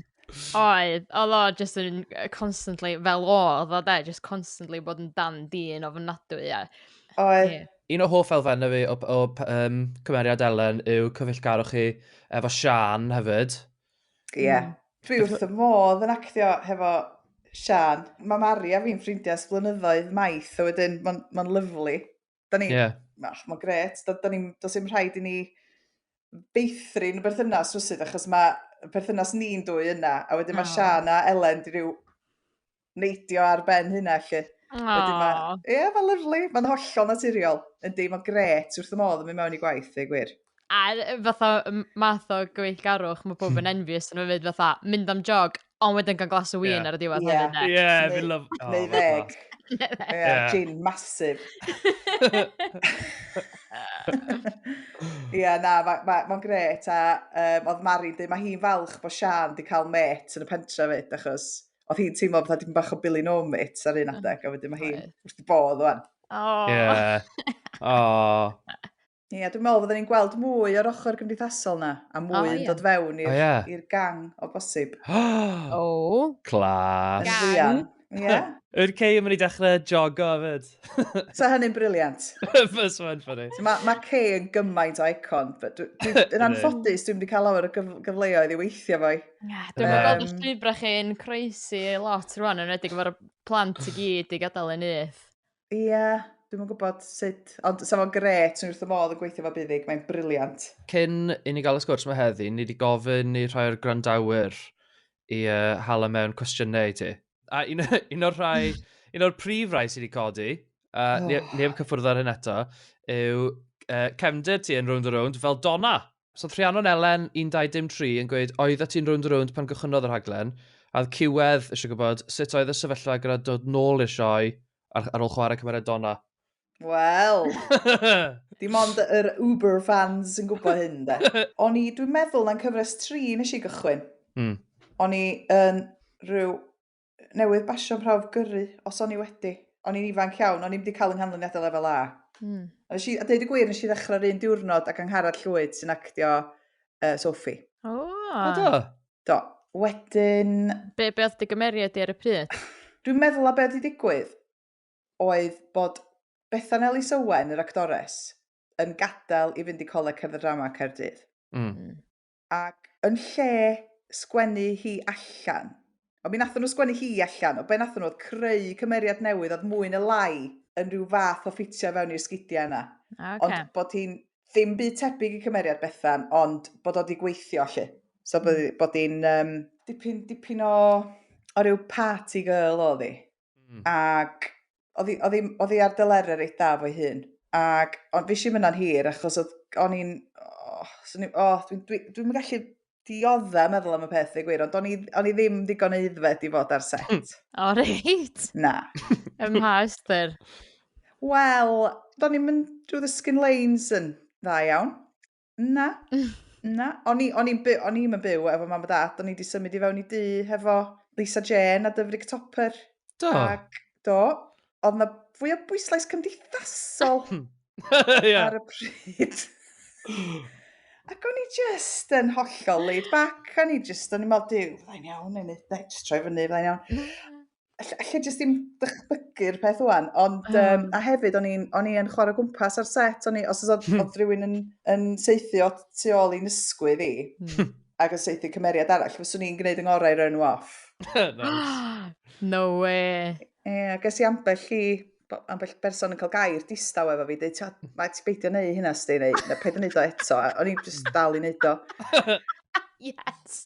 [SPEAKER 1] Oedd, oedd o just yn constantly, fel o, oedd o de, just constantly bod yn dan dyn o fynadwy. A... Oedd. Yeah. Un o hoff elfennau fi o, o um, cymeriad Ellen yw cyfeillgarwch chi efo Sian hefyd. Ie. Yeah. Mm. Dwi wrth y modd yn actio hefo Sian. Mae Mari a fi'n ffrindiau ys blynyddoedd maith, a wedyn mae'n ma lyflu. Da ni... Yeah. Mach, mae'n gret. Da, da ni, dos i'n rhaid i ni beithrin berthynas rwysydd, achos mae perthynas ni'n dwy yna, a wedyn mae oh. Sian a Elen di rhyw neidio ar ben hynna, lle. Oh. Wedyn mae, ie, yeah, mae'n lyflu, mae'n hollol naturiol. Yndi, mae'n gret wrth y modd yn mynd mewn i gwaith, ei gwir. A fatha math o gyfeillgarwch, mae pob yn envious yn fyd fatha mynd am jog, ond wedyn gan glas o win ar y diwedd hefyd. Ie, fi'n lyfo. Neu ddeg. Ie, gin masif. Ie, na, mae'n gret. A oedd Mari'n dweud, mae hi'n falch bod Sian wedi cael met yn y pentra fyd, achos oedd hi'n teimlo bod hi'n bach o Billy No Met ar un adeg, a wedyn mae hi'n wrth i bodd o'n. Oh. Yeah. Oh. Ie, dwi'n meddwl fydden ni'n gweld mwy o'r ochr gymdeithasol na, a mwy oh, yn yeah. dod fewn i'r oh, yeah. gang o bosib. o! Clas! Gang! Ie. Yeah. Yr cei yn mynd i dechrau jogo fyd. so hynny'n briliant. Fys mae'n ffynnu. So, mae ma cei yn gymaint o icon. Yn anffodus, dwi'n wedi cael lawer o gyf gyfleoedd i weithio fo. Yeah, dwi'n um, gweld y llwybrau chi'n croesi lot rwan, yn redig efo'r plant i gyd i gadael yn nyth. Ia, dwi'm yn gwybod sut, ond sa fo'n gret, swn i wrth fy modd yn gweithio efo Buddug, mae'n briliant. Cyn i ni gael y sgwrs 'ma heddi, ni 'di gofyn i rhai o'r gwrandawyr i yy, hala mewn cwestiynau i ti. A un, un o'r rhai, un o'r prif rai sydd wedi codi, a ni, ni heb cyffwrdd ar hyn eto, yw uh, cefndir ti yn Round a Round fel Donna. Os oedd Rhiannon Elen, 19-dim-tri, yn gweud 'oeddet ti'n rownd a rownd pan gychwynnodd y rhaglen, a oedd Ciwedd eisiau gwybod sut oedd y sefyllfa gyda dod nôl i'r sioe ar ar ôl chwarae cymeriad Donna. Wel! Dim ond yr Uber fans yn gwybod hyn, de. O'n i, dwi'n meddwl, na'n cyfres tri nes i gychwyn. Mm. O'n i yn rhyw newydd basio prawf gyrru, os o'n i wedi. O'n i'n ifanc iawn, o'n i'n wedi cael yng nghanlyniadau lefel A. Mm. A, si, a dweud y gwir, nes i ddechrau'r un diwrnod ac Angharad Llwyd sy'n actio uh, Sophie. O! Oh. do? Do. Wedyn... Be, be oedd dy gymeriad di ar y pryd? Dwi'n meddwl a be oedd wedi digwydd oedd bod Bethan Elis Owen, yr actores, yn gadael i fynd i Coleg Cerdd y Drama Caerdydd. Mm. mm. ac yn lle sgwennu hi allan, ond mi nathon nhw sgwennu hi allan, o be nathon nhw oedd creu cymeriad newydd oedd mwy na lai yn rhyw fath o ffitio fewn i'r sgidiau yna. Ah, ocê. Ond bod hi'n ddim byd tebyg i cymeriad Bethan, ond bod o 'di gweithio allu. So bod, bod hi'n um, dipyn, dipyn o, o ryw party girl oedd hi. Mm. Ac oedd hi, oedd hi, oedd hi ar dyleru reit da fo'i hun. Ac ond fi si myna'n hir achos oedd o'n i'n... Oh, so ni, oh, dwi'n dwi, dwi, dwi gallu diodda meddwl am y peth i gwir, ond o'n i, on i ddim digon eiddfed i fod ar set. Hmm. O, oh, reit. Na. Ym mha ystyr? Wel, do'n i'n mynd drwy the skin lanes yn dda iawn. Na, na. O'n i'n byw, o'n i'n byw efo mam a dad, o'n i wedi symud i fewn i dŷ hefo Lisa Jane a Dyfrig Topper. Do? Ac, do. Oedd na fwy o bwyslais cymdeithasol yeah. ar y pryd. Ac o'n i just yn hollol laid back, o'n i just, o'n i'n meddwl, diw, fyddai'n iawn, neu just troi fyny, fyddai'n iawn. all- allai jyst dim dychmygu'r peth o'n, ond um, um, a hefyd o'n i'n o'n i'n chwarae gwmpas ar set, o'n i, os oedd, hmm. oedd rhywun yn, yn seithi o tu ôl i'n ysgwydd i, hmm. ac yn seithi cymeriad arall, fyswn i'n gwneud yng ngorau rhan nhw off. no way. Ie, yeah, ges i ambell i ambell berson yn cael gair distaw efo fi, dweud, mae ti beidio neu hynna, sti, neu na paid yn neud o eto. O'n i'n just dal i neud o. yes.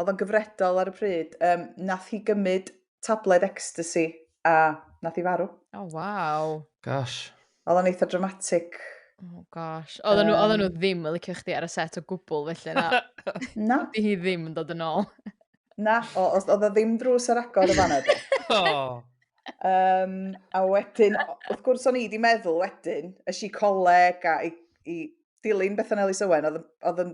[SPEAKER 1] Oedd o'n gyfredol ar y pryd. Um, nath hi gymryd tabled ecstasy a nath hi farw. O, oh, waw. Gosh. Oedd o'n eitha dramatic. Oh gosh. Oedd um, nhw, nhw ddim yn licio chdi ar y set o gwbl felly na. na. Di hi ddim yn dod yn ôl. na, oedd o ddim drws ar agor y fanna. oh. Um, a wedyn, wrth gwrs o'n i wedi meddwl wedyn, y si coleg a i, i dilyn Bethan Ellis Owen odd yn odd yn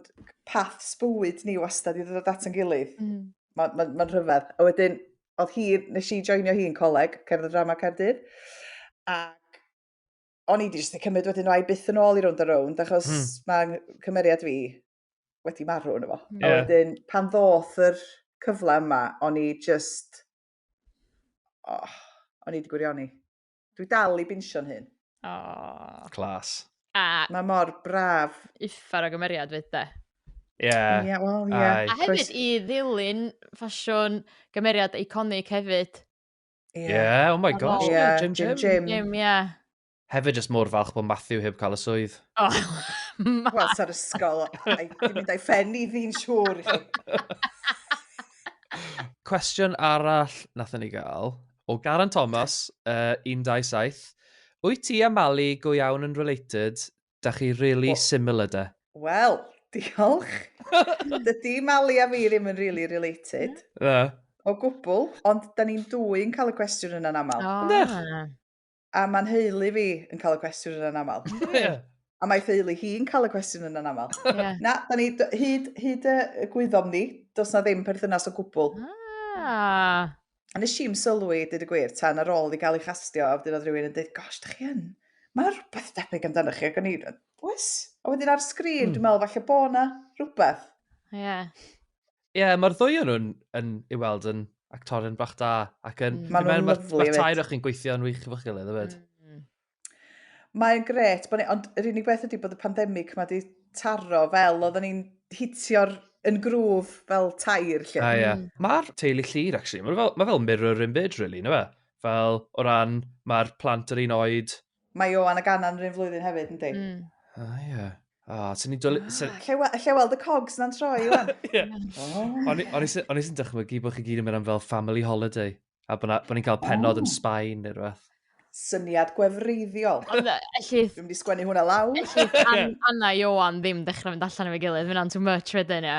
[SPEAKER 1] paths bywyd ni wastad i ddod at 'yn gilydd. Hmm. Ma'n ma'n ma'n rhyfedd. A wedyn odd hi nes i joinio hi yn coleg cerdd a drama Caerdydd ac o'n i 'di jyst 'di cymryd wedyn o ai byth yn ôl i rownd a rownd achos mm. mae cymeriad fi wedi marw yno fo. Yeah. A wedyn pan ddoth yr cyfle yma o'n i just oh, o'n i wedi gwirioni. Dwi dal i binsio'n hun. Oh. Clas. A... Mae mor braf. Uffar o gymeriad fyd de. Ie. Yeah. Yeah, well, yeah. A hefyd i ddilyn ffasiwn gymeriad iconic hefyd. Ie, yeah. yeah, oh my gosh. Yeah, Jim Jim. Jim, Jim, yeah. Hefyd jyst mor falch bod Matthew heb cael y swydd. Oh, Wel, sa'r ysgol, dwi'n mynd a'i ffen i ddi'n siŵr i chi. Cwestiwn arall nath ni gael O Garan Thomas, uh, 127. Wyt ti a Mali go iawn yn related? Da chi really well, similar de. Wel, diolch. Dydy Mali a fi ddim yn really related. Na. O gwbl, ond da ni'n dwy yn cael y cwestiwn yna'n aml. Oh. A ma'n nheulu fi yn cael y cwestiwn yna'n aml. Ie. A mae theulu hi'n cael y cwestiwn yna'n aml. Ie. Na, da ni, d- hyd, hyd y y gwyddom ni, does na ddim perthynas o gwbl. Ah. A nes i'm sylwi, dyd y gwir, tan ar ôl i gael ei chastio, a wedyn oedd rhywun yn dweud, gosh, da chi yn, mae yna rhywbeth debyg amdanoch chi, ac o'n i, oes? A wedyn ar sgrin, Mm. dwi'n meddwl, falle bo na rhywbeth. Ie. Ie, yeah, mae'r ddwy o'n nhw'n yn, i weld yn actorion bach da. Ac yn... Mm. Maen nhw'n lyflu. Mae'r tair o'ch chi'n gweithio'n wych efo'ch gilydd, yfyd. Mm. Mae'n gret, ni, ond yr unig beth ydy bod y pandemig mae wedi taro fel oedden ni'n hitio'r yn grŵf fel tair lle. A ie. Yeah. Mm. Mae'r teulu llir, actually. Mae fel, ma fel mirror imbyd, really, na fe? Fel, o ran, mae'r plant yr un oed, Mae Ioan a Ganan yr un flwyddyn hefyd, yndi? Mm. O, ah, ie. O, oh, ti'n ni dwlu... Ah, lle weld y cogs na'n troi, Ioan. O'n i sy'n dychmygu bod chi gyd yn mynd am fel family holiday, a bod ni'n cael penod yn Sbaen neu rhywbeth syniad gwefreiddiol. Ond e, elli... Dwi'n mynd i sgwennu hwnna lawr. Elli Anna Ioan ddim dechrau mynd allan efo'i gilydd, fyna'n too much wedyn, ie.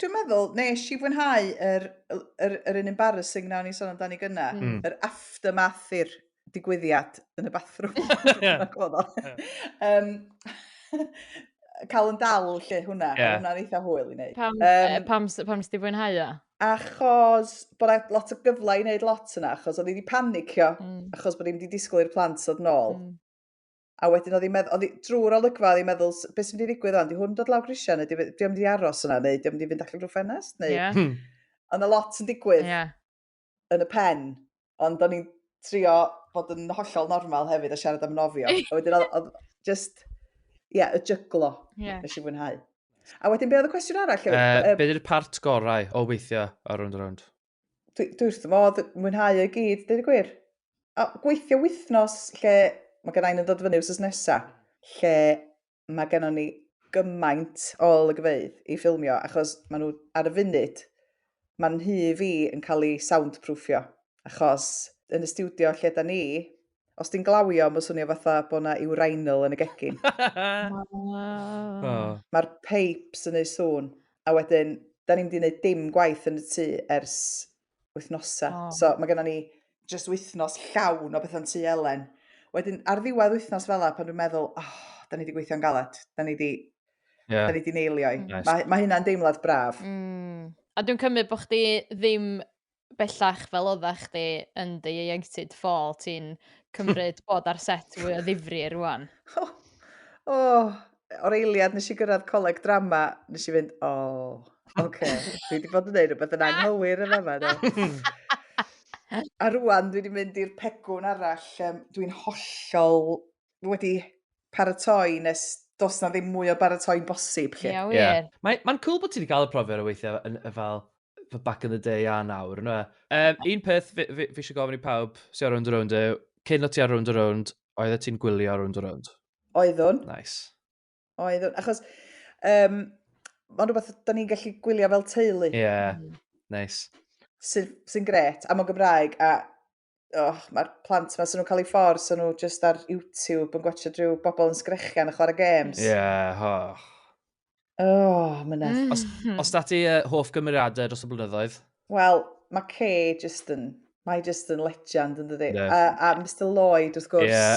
[SPEAKER 1] Dwi'n meddwl, nes i fwynhau yr, yr, yr un embarrassing na o'n i sôn amdani gyna, mm. yr er aftermath i'r digwyddiad yn y bathroom. um, cael yn dal lle hwnna, yeah. hwnna'n eitha hwyl i wneud. Pam, um, pam, pam sdi fwynhau o? Achos bod e lot o gyfle i wneud lot yna, achos oedd i wedi panicio, mm. achos bod i wedi disgwyl i'r plant oedd nôl. Mm. A wedyn oedd hi'n meddwl, oedd hi drwy'r olygfa, oedd hi'n meddwl, beth sy'n mynd i ddigwydd o'n, di hwn dod lawr grisiau, neu di o'n mynd i aros yna, neu di o'n mynd i fynd allan drwy ffenest, neu... Yeah. Hmm. Ond a lot yn digwydd yeah. yn y pen, ond o'n i'n trio bod yn hollol normal hefyd a siarad am nofio. a wedyn oedd, oedd just, ie, yeah, y jyglo, yeah. nes i fwynhau. A wedyn, be oedd y cwestiwn arall? Uh, uh, be ydy'r part gorau o weithio ar Round Round? dwi, dwi wrth fy modd mwynhau y gyd, dweud y gwir. A gweithio wythnos lle mae gen i'n dod fyny wrth nesa, lle mae gen ni gymaint o olygfeydd i ffilmio, achos maen nhw ar y funud, mae'n hy fi yn cael ei soundproofio, achos yn y studio lle da ni, Os ti'n glawio, mae'n swnio fatha bod yna urinal yn y gegin. oh. Mae'r pipes yn ei sŵn. A wedyn, da ni'n mynd i wneud dim gwaith yn y tŷ ers wythnosau. Oh. So mae gennym ni just wythnos llawn o bethau'n tŷ Elen. Wedyn, ar ddiwedd wythnos fel la, pan dwi'n meddwl, oh, da ni wedi gweithio'n galed. Da ni wedi yeah. da ni wedi neilio i. Nice. Mae, mae hynna'n deimlad braf. Mm. A dwi'n cymryd bod chdi ddim bellach fel oddach chdi yn dy ieuenctid ffôl ti'n cymryd bod ar set fwy o ddifri rŵan? O! O! O'r eiliad nes i gyrraedd coleg drama, nes i fynd, o, oce, dwi wedi bod yn neud rhywbeth yn anghywir yn fama do. A rŵan dwi wedi mynd i'r pegwn arall, um, dwi'n hollol wedi paratoi nes dos na ddim mwy o baratoi'n bosib lle. Ie, wir. Yeah. Mae'n mae cool bod ti wedi cael y profiad o weithio yn, fel fy back in the day a nawr, yna. Um, un peth fi, fi, fi eisiau gofyn i pawb sy'n ar Round Around yw, cyn o ti ar Round Around, oedd e ti'n gwylio ar Round Around? Oeddwn. Nice. Oeddwn, achos um, mae'n rhywbeth da ni'n gallu gwylio fel teulu. Ie, yeah. Mm. nice. Sy'n sy gret, a mae'n Gymraeg, a oh, mae'r plant yma, sy'n nhw'n cael ei ffordd, sy'n nhw just ar YouTube yn gwachio drwy bobl yn sgrechian a chwarae games. Ie, yeah, oh. Oh, myna. Mm. Os, mhm. os da ti uh, hoff gymeriadau dros y blynyddoedd? Wel, mae Kay just yn, mae just yn legend yn dydi. Yeah. A, a Mr Lloyd, wrth gwrs. Yeah.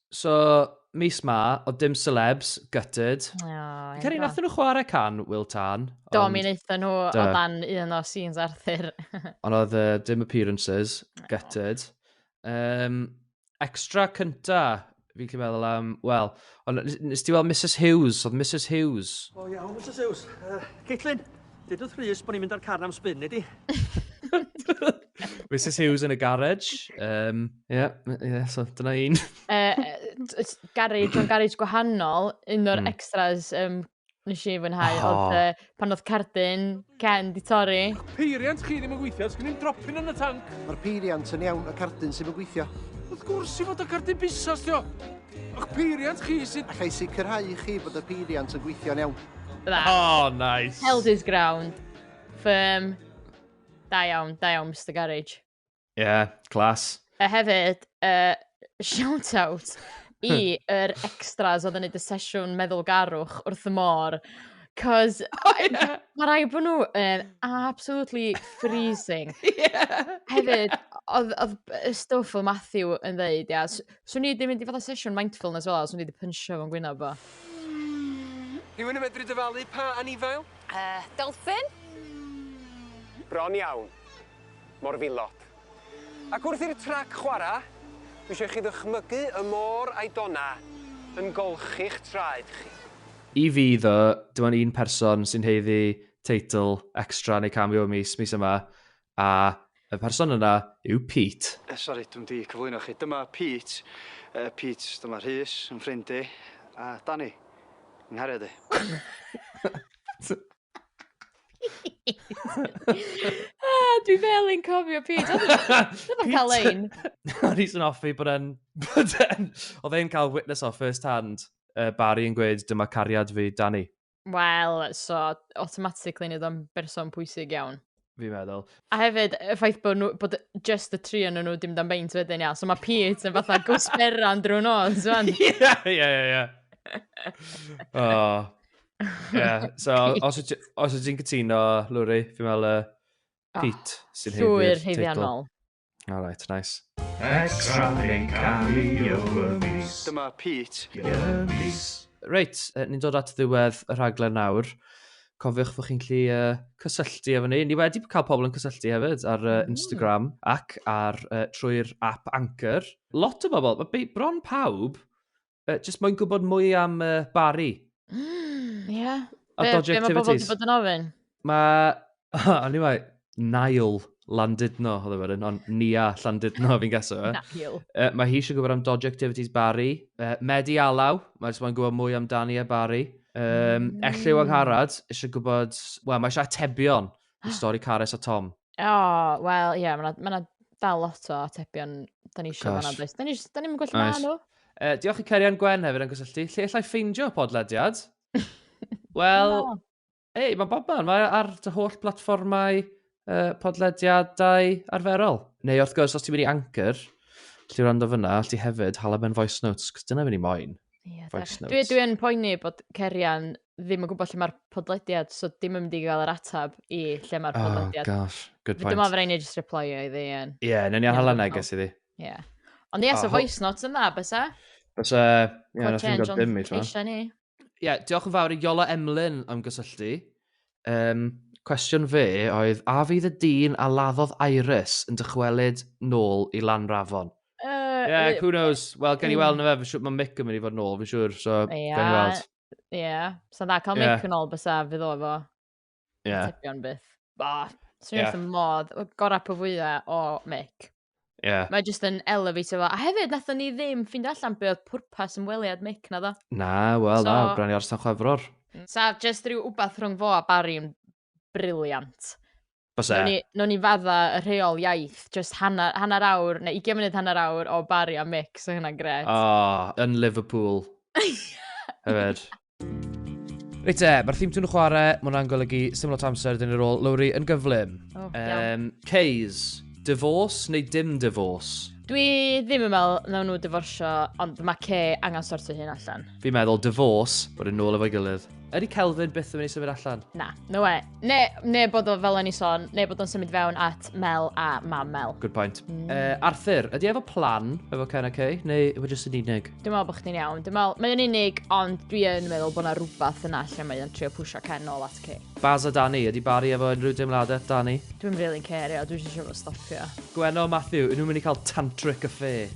[SPEAKER 1] So, mis ma, oedd dim celebs, gutted. Oh, Fi'n credu nath nhw chwarae can Will Tan. Do, mi wnaethon nhw o dan un o scenes Arthur. ond oedd uh, dim appearances, gutted. Um, extra cynta, fi'n gallu meddwl am, wel, ond nes ti weld Mrs Hughes, oedd Mrs Hughes. O oh, iawn, Mrs Hughes. Uh, Caitlin, dydwth Rhys bod ni'n mynd ar carn am spin, neu di? Mrs Hughes yn y garage. Um, yeah, yeah, so dyna un. uh, garage, o'n garage gwahanol, un o'r mm. extras um, nes i fwynhau, oh. oedd uh, pan oedd cardyn Ken di torri. Peiriant chi ddim yn gweithio, os gen i'n dropin yn y tank. Mae'r peiriant yn iawn, y cardyn sy'n yn gweithio. Wrth gwrs i fod y cardyn busas, dio. O'ch peiriant chi sy'n... Alla i sicrhau chi bod y peiriant yn gweithio'n iawn. That. Oh, nice. Held his ground. Firm. Da iawn, da iawn, Mr Garage. Ie, yeah, clas. A hefyd, uh, shout out i yr extras oedd yn neud y sesiwn meddwl garwch wrth y môr. Cos oh, yeah. mae rai bod nhw yn absolutely freezing. yeah. Hefyd, oedd, oedd y stwff o Matthew yn ddeud, ia, swn i wedi mynd i fod y sesiwn mindfulness fel, swn i wedi pynsio fo'n gwynaf bo. Rhywun yn medru dyfalu pa anifail? Yy, dolphin? Bron iawn. Morfilod. Ac wrth i'r trac chwara', dwi isio i chi ddychmygu y môr a'i dona yn golchi'ch traed chi. I fi, ddo, dim ond un person sy'n haeddu teitl extra neu cameo mis, mis yma, a y person yna yw Pete. Eh, sori, dwi'm 'di cyflwyno chi. Dyma Pete. Eh, Pete, dyma Rhys, yn ffrind i, a Danny, yng nghariad i. ah, dwi fel yn cofio Pete. Oedd o'n cael ein. O'n i'n offi bod e'n... Oedd e'n cael witness o first hand uh, Barry yn gweud dyma cariad fi, Danny. Wel, so, automatically nid o'n berson pwysig iawn. Fi'n meddwl. A hefyd, y ffaith bod, nhw, bod just y tri yn nhw dim dan beint wedyn, ia. So mae Pete yn fatha gwsberan drwy'n ôl, ti'n Ie, ie, ie, ie. O. Ie, so os ydych ti'n cytuno, Lwri, fi'n meddwl uh, Pete sy'n heiddi'r teitl. Llwyr heiddiannol. All right, nice. Extra yn cario y mis. Dyma Pete. Y mis. Reit, ni'n dod at ddiwedd y rhaglen nawr. Cofiwch fod chi'n gallu uh, cysylltu efo ni. Ni wedi cael pobl yn cysylltu hefyd ar uh, Instagram mm. ac ar uh, trwy'r app Anchor. Lot o bobl, mae bron pawb Uh, just moyn gwybod mwy am uh, Barry. Mm, yeah. A be, dodgy be mae pobl wedi bod yn ofyn? Mae... Anyway, Niall Landudno, oedd efo'r un, ond Nia Landudno fi'n gaso. E. Niall. Uh, mae hi eisiau gwybod am Dodgy Activities Barry. Uh, Medi Alaw, mae jyst moyn gwybod mwy amdani a Barry. Um, mm. Elliw Angharad, eisiau gwybod... Wel, mae eisiau atebion i stori Cares a Tom. O, oh, wel, ie, yeah, mae yna ma dal lot o atebion da ni eisiau fanna, does? Da ni'n ni gwella nice. nhw. Uh, diolch i Cerian Gwen hefyd yn gysylltu. Lle allai ffeindio podlediad? Wel, no. ei, mae bob man. Mae ar dy holl blatfformau uh, podlediadau arferol. Neu wrth gwrs, os ti'n mynd i Anchor, lle rando fyna, lle hefyd, hala mewn voice notes, cos dyna fy'n i moyn. Yeah, voice notes. Dwi, dwi yn poeni bod Cerian ddim yn gwybod lle mae'r podlediad, so dim yn mynd i gael yr atab i lle mae'r oh, podlediad. Oh gosh, good point. Dyma fe rhaid i just reply i iddi. Ie, yeah, newn ni anhal yna, ges iddi. Ie. Ond ie, so voice notes yn dda, bys e? Bys e, ie, na chi'n gwybod dim i tra. Ie, diolch yn fawr i Iola Emlyn am gysylltu. Um, cwestiwn fe oedd, a fydd y dyn a laddodd Iris yn dychwelyd nôl i Lanrafon? Uh, yeah, who knows? Wel, gen i weld na fe, mae'n mic yn mynd i fod nôl, fi'n siŵr, so yeah. gen i weld. Ie. Yeah. Sa'n dda cael yeah. mic yn ôl bysa fydd o efo. Ie. Yeah. Tebion byth. Ba. Swn i'n yeah. wrth y modd. Gorau po fwya o mic. Ie. Yeah. Mae jyst yn elevator fo. A hefyd, nathon ni ddim ffind allan be oedd pwrpas yn weliad mic na ddo. Na, wel, so, na, bron i orsan chwefror. Mm. Sa jyst rhyw wbath rhwng fo a Barry yn briliant. Byse. Nw'n ni, nwn ni fadda y rheol iaith, just hanner, hanner awr, neu 20 munud hanner awr o Barry a Mick, so hynna'n gret. Ah, yn Liverpool. Hefyd. Reit e, mae'r theme tune yn chwarae, mae hwnna'n golygu syml o tamser dyn ni'r ôl Lowry yn gyflym. Oh, um, Kays, divorce neu dim divorce? Dwi ddim yn meddwl na nhw diforsio, ond mae Kay angen sortio hyn allan. Fi'n meddwl divorce, bod yn nôl efo'i gilydd. Ydy Kelvin byth yn mynd i symud allan? Na, no way. Ne, ne bod o fel o'n i sôn, ne bod o'n symud fewn at Mel a mam Mel. Good point. Mm. Uh, Arthur, ydy efo plan efo Ken a Kay, neu yw e jyst yn unig? Dwi'n meddwl bod chdi'n iawn. Dwi'n meddwl, mae'n unig, ond dwi yn meddwl bod yna rhywbeth yna lle mae'n trio pwysio Ken ôl at Kay. Baz a Danny, ydy Barry efo unrhyw deimladau, Danny? Dwi'n really cerio, dwi'n eisiau fo stopio. Gwenno, Matthew, yn nhw'n mynd i cael tantric affair.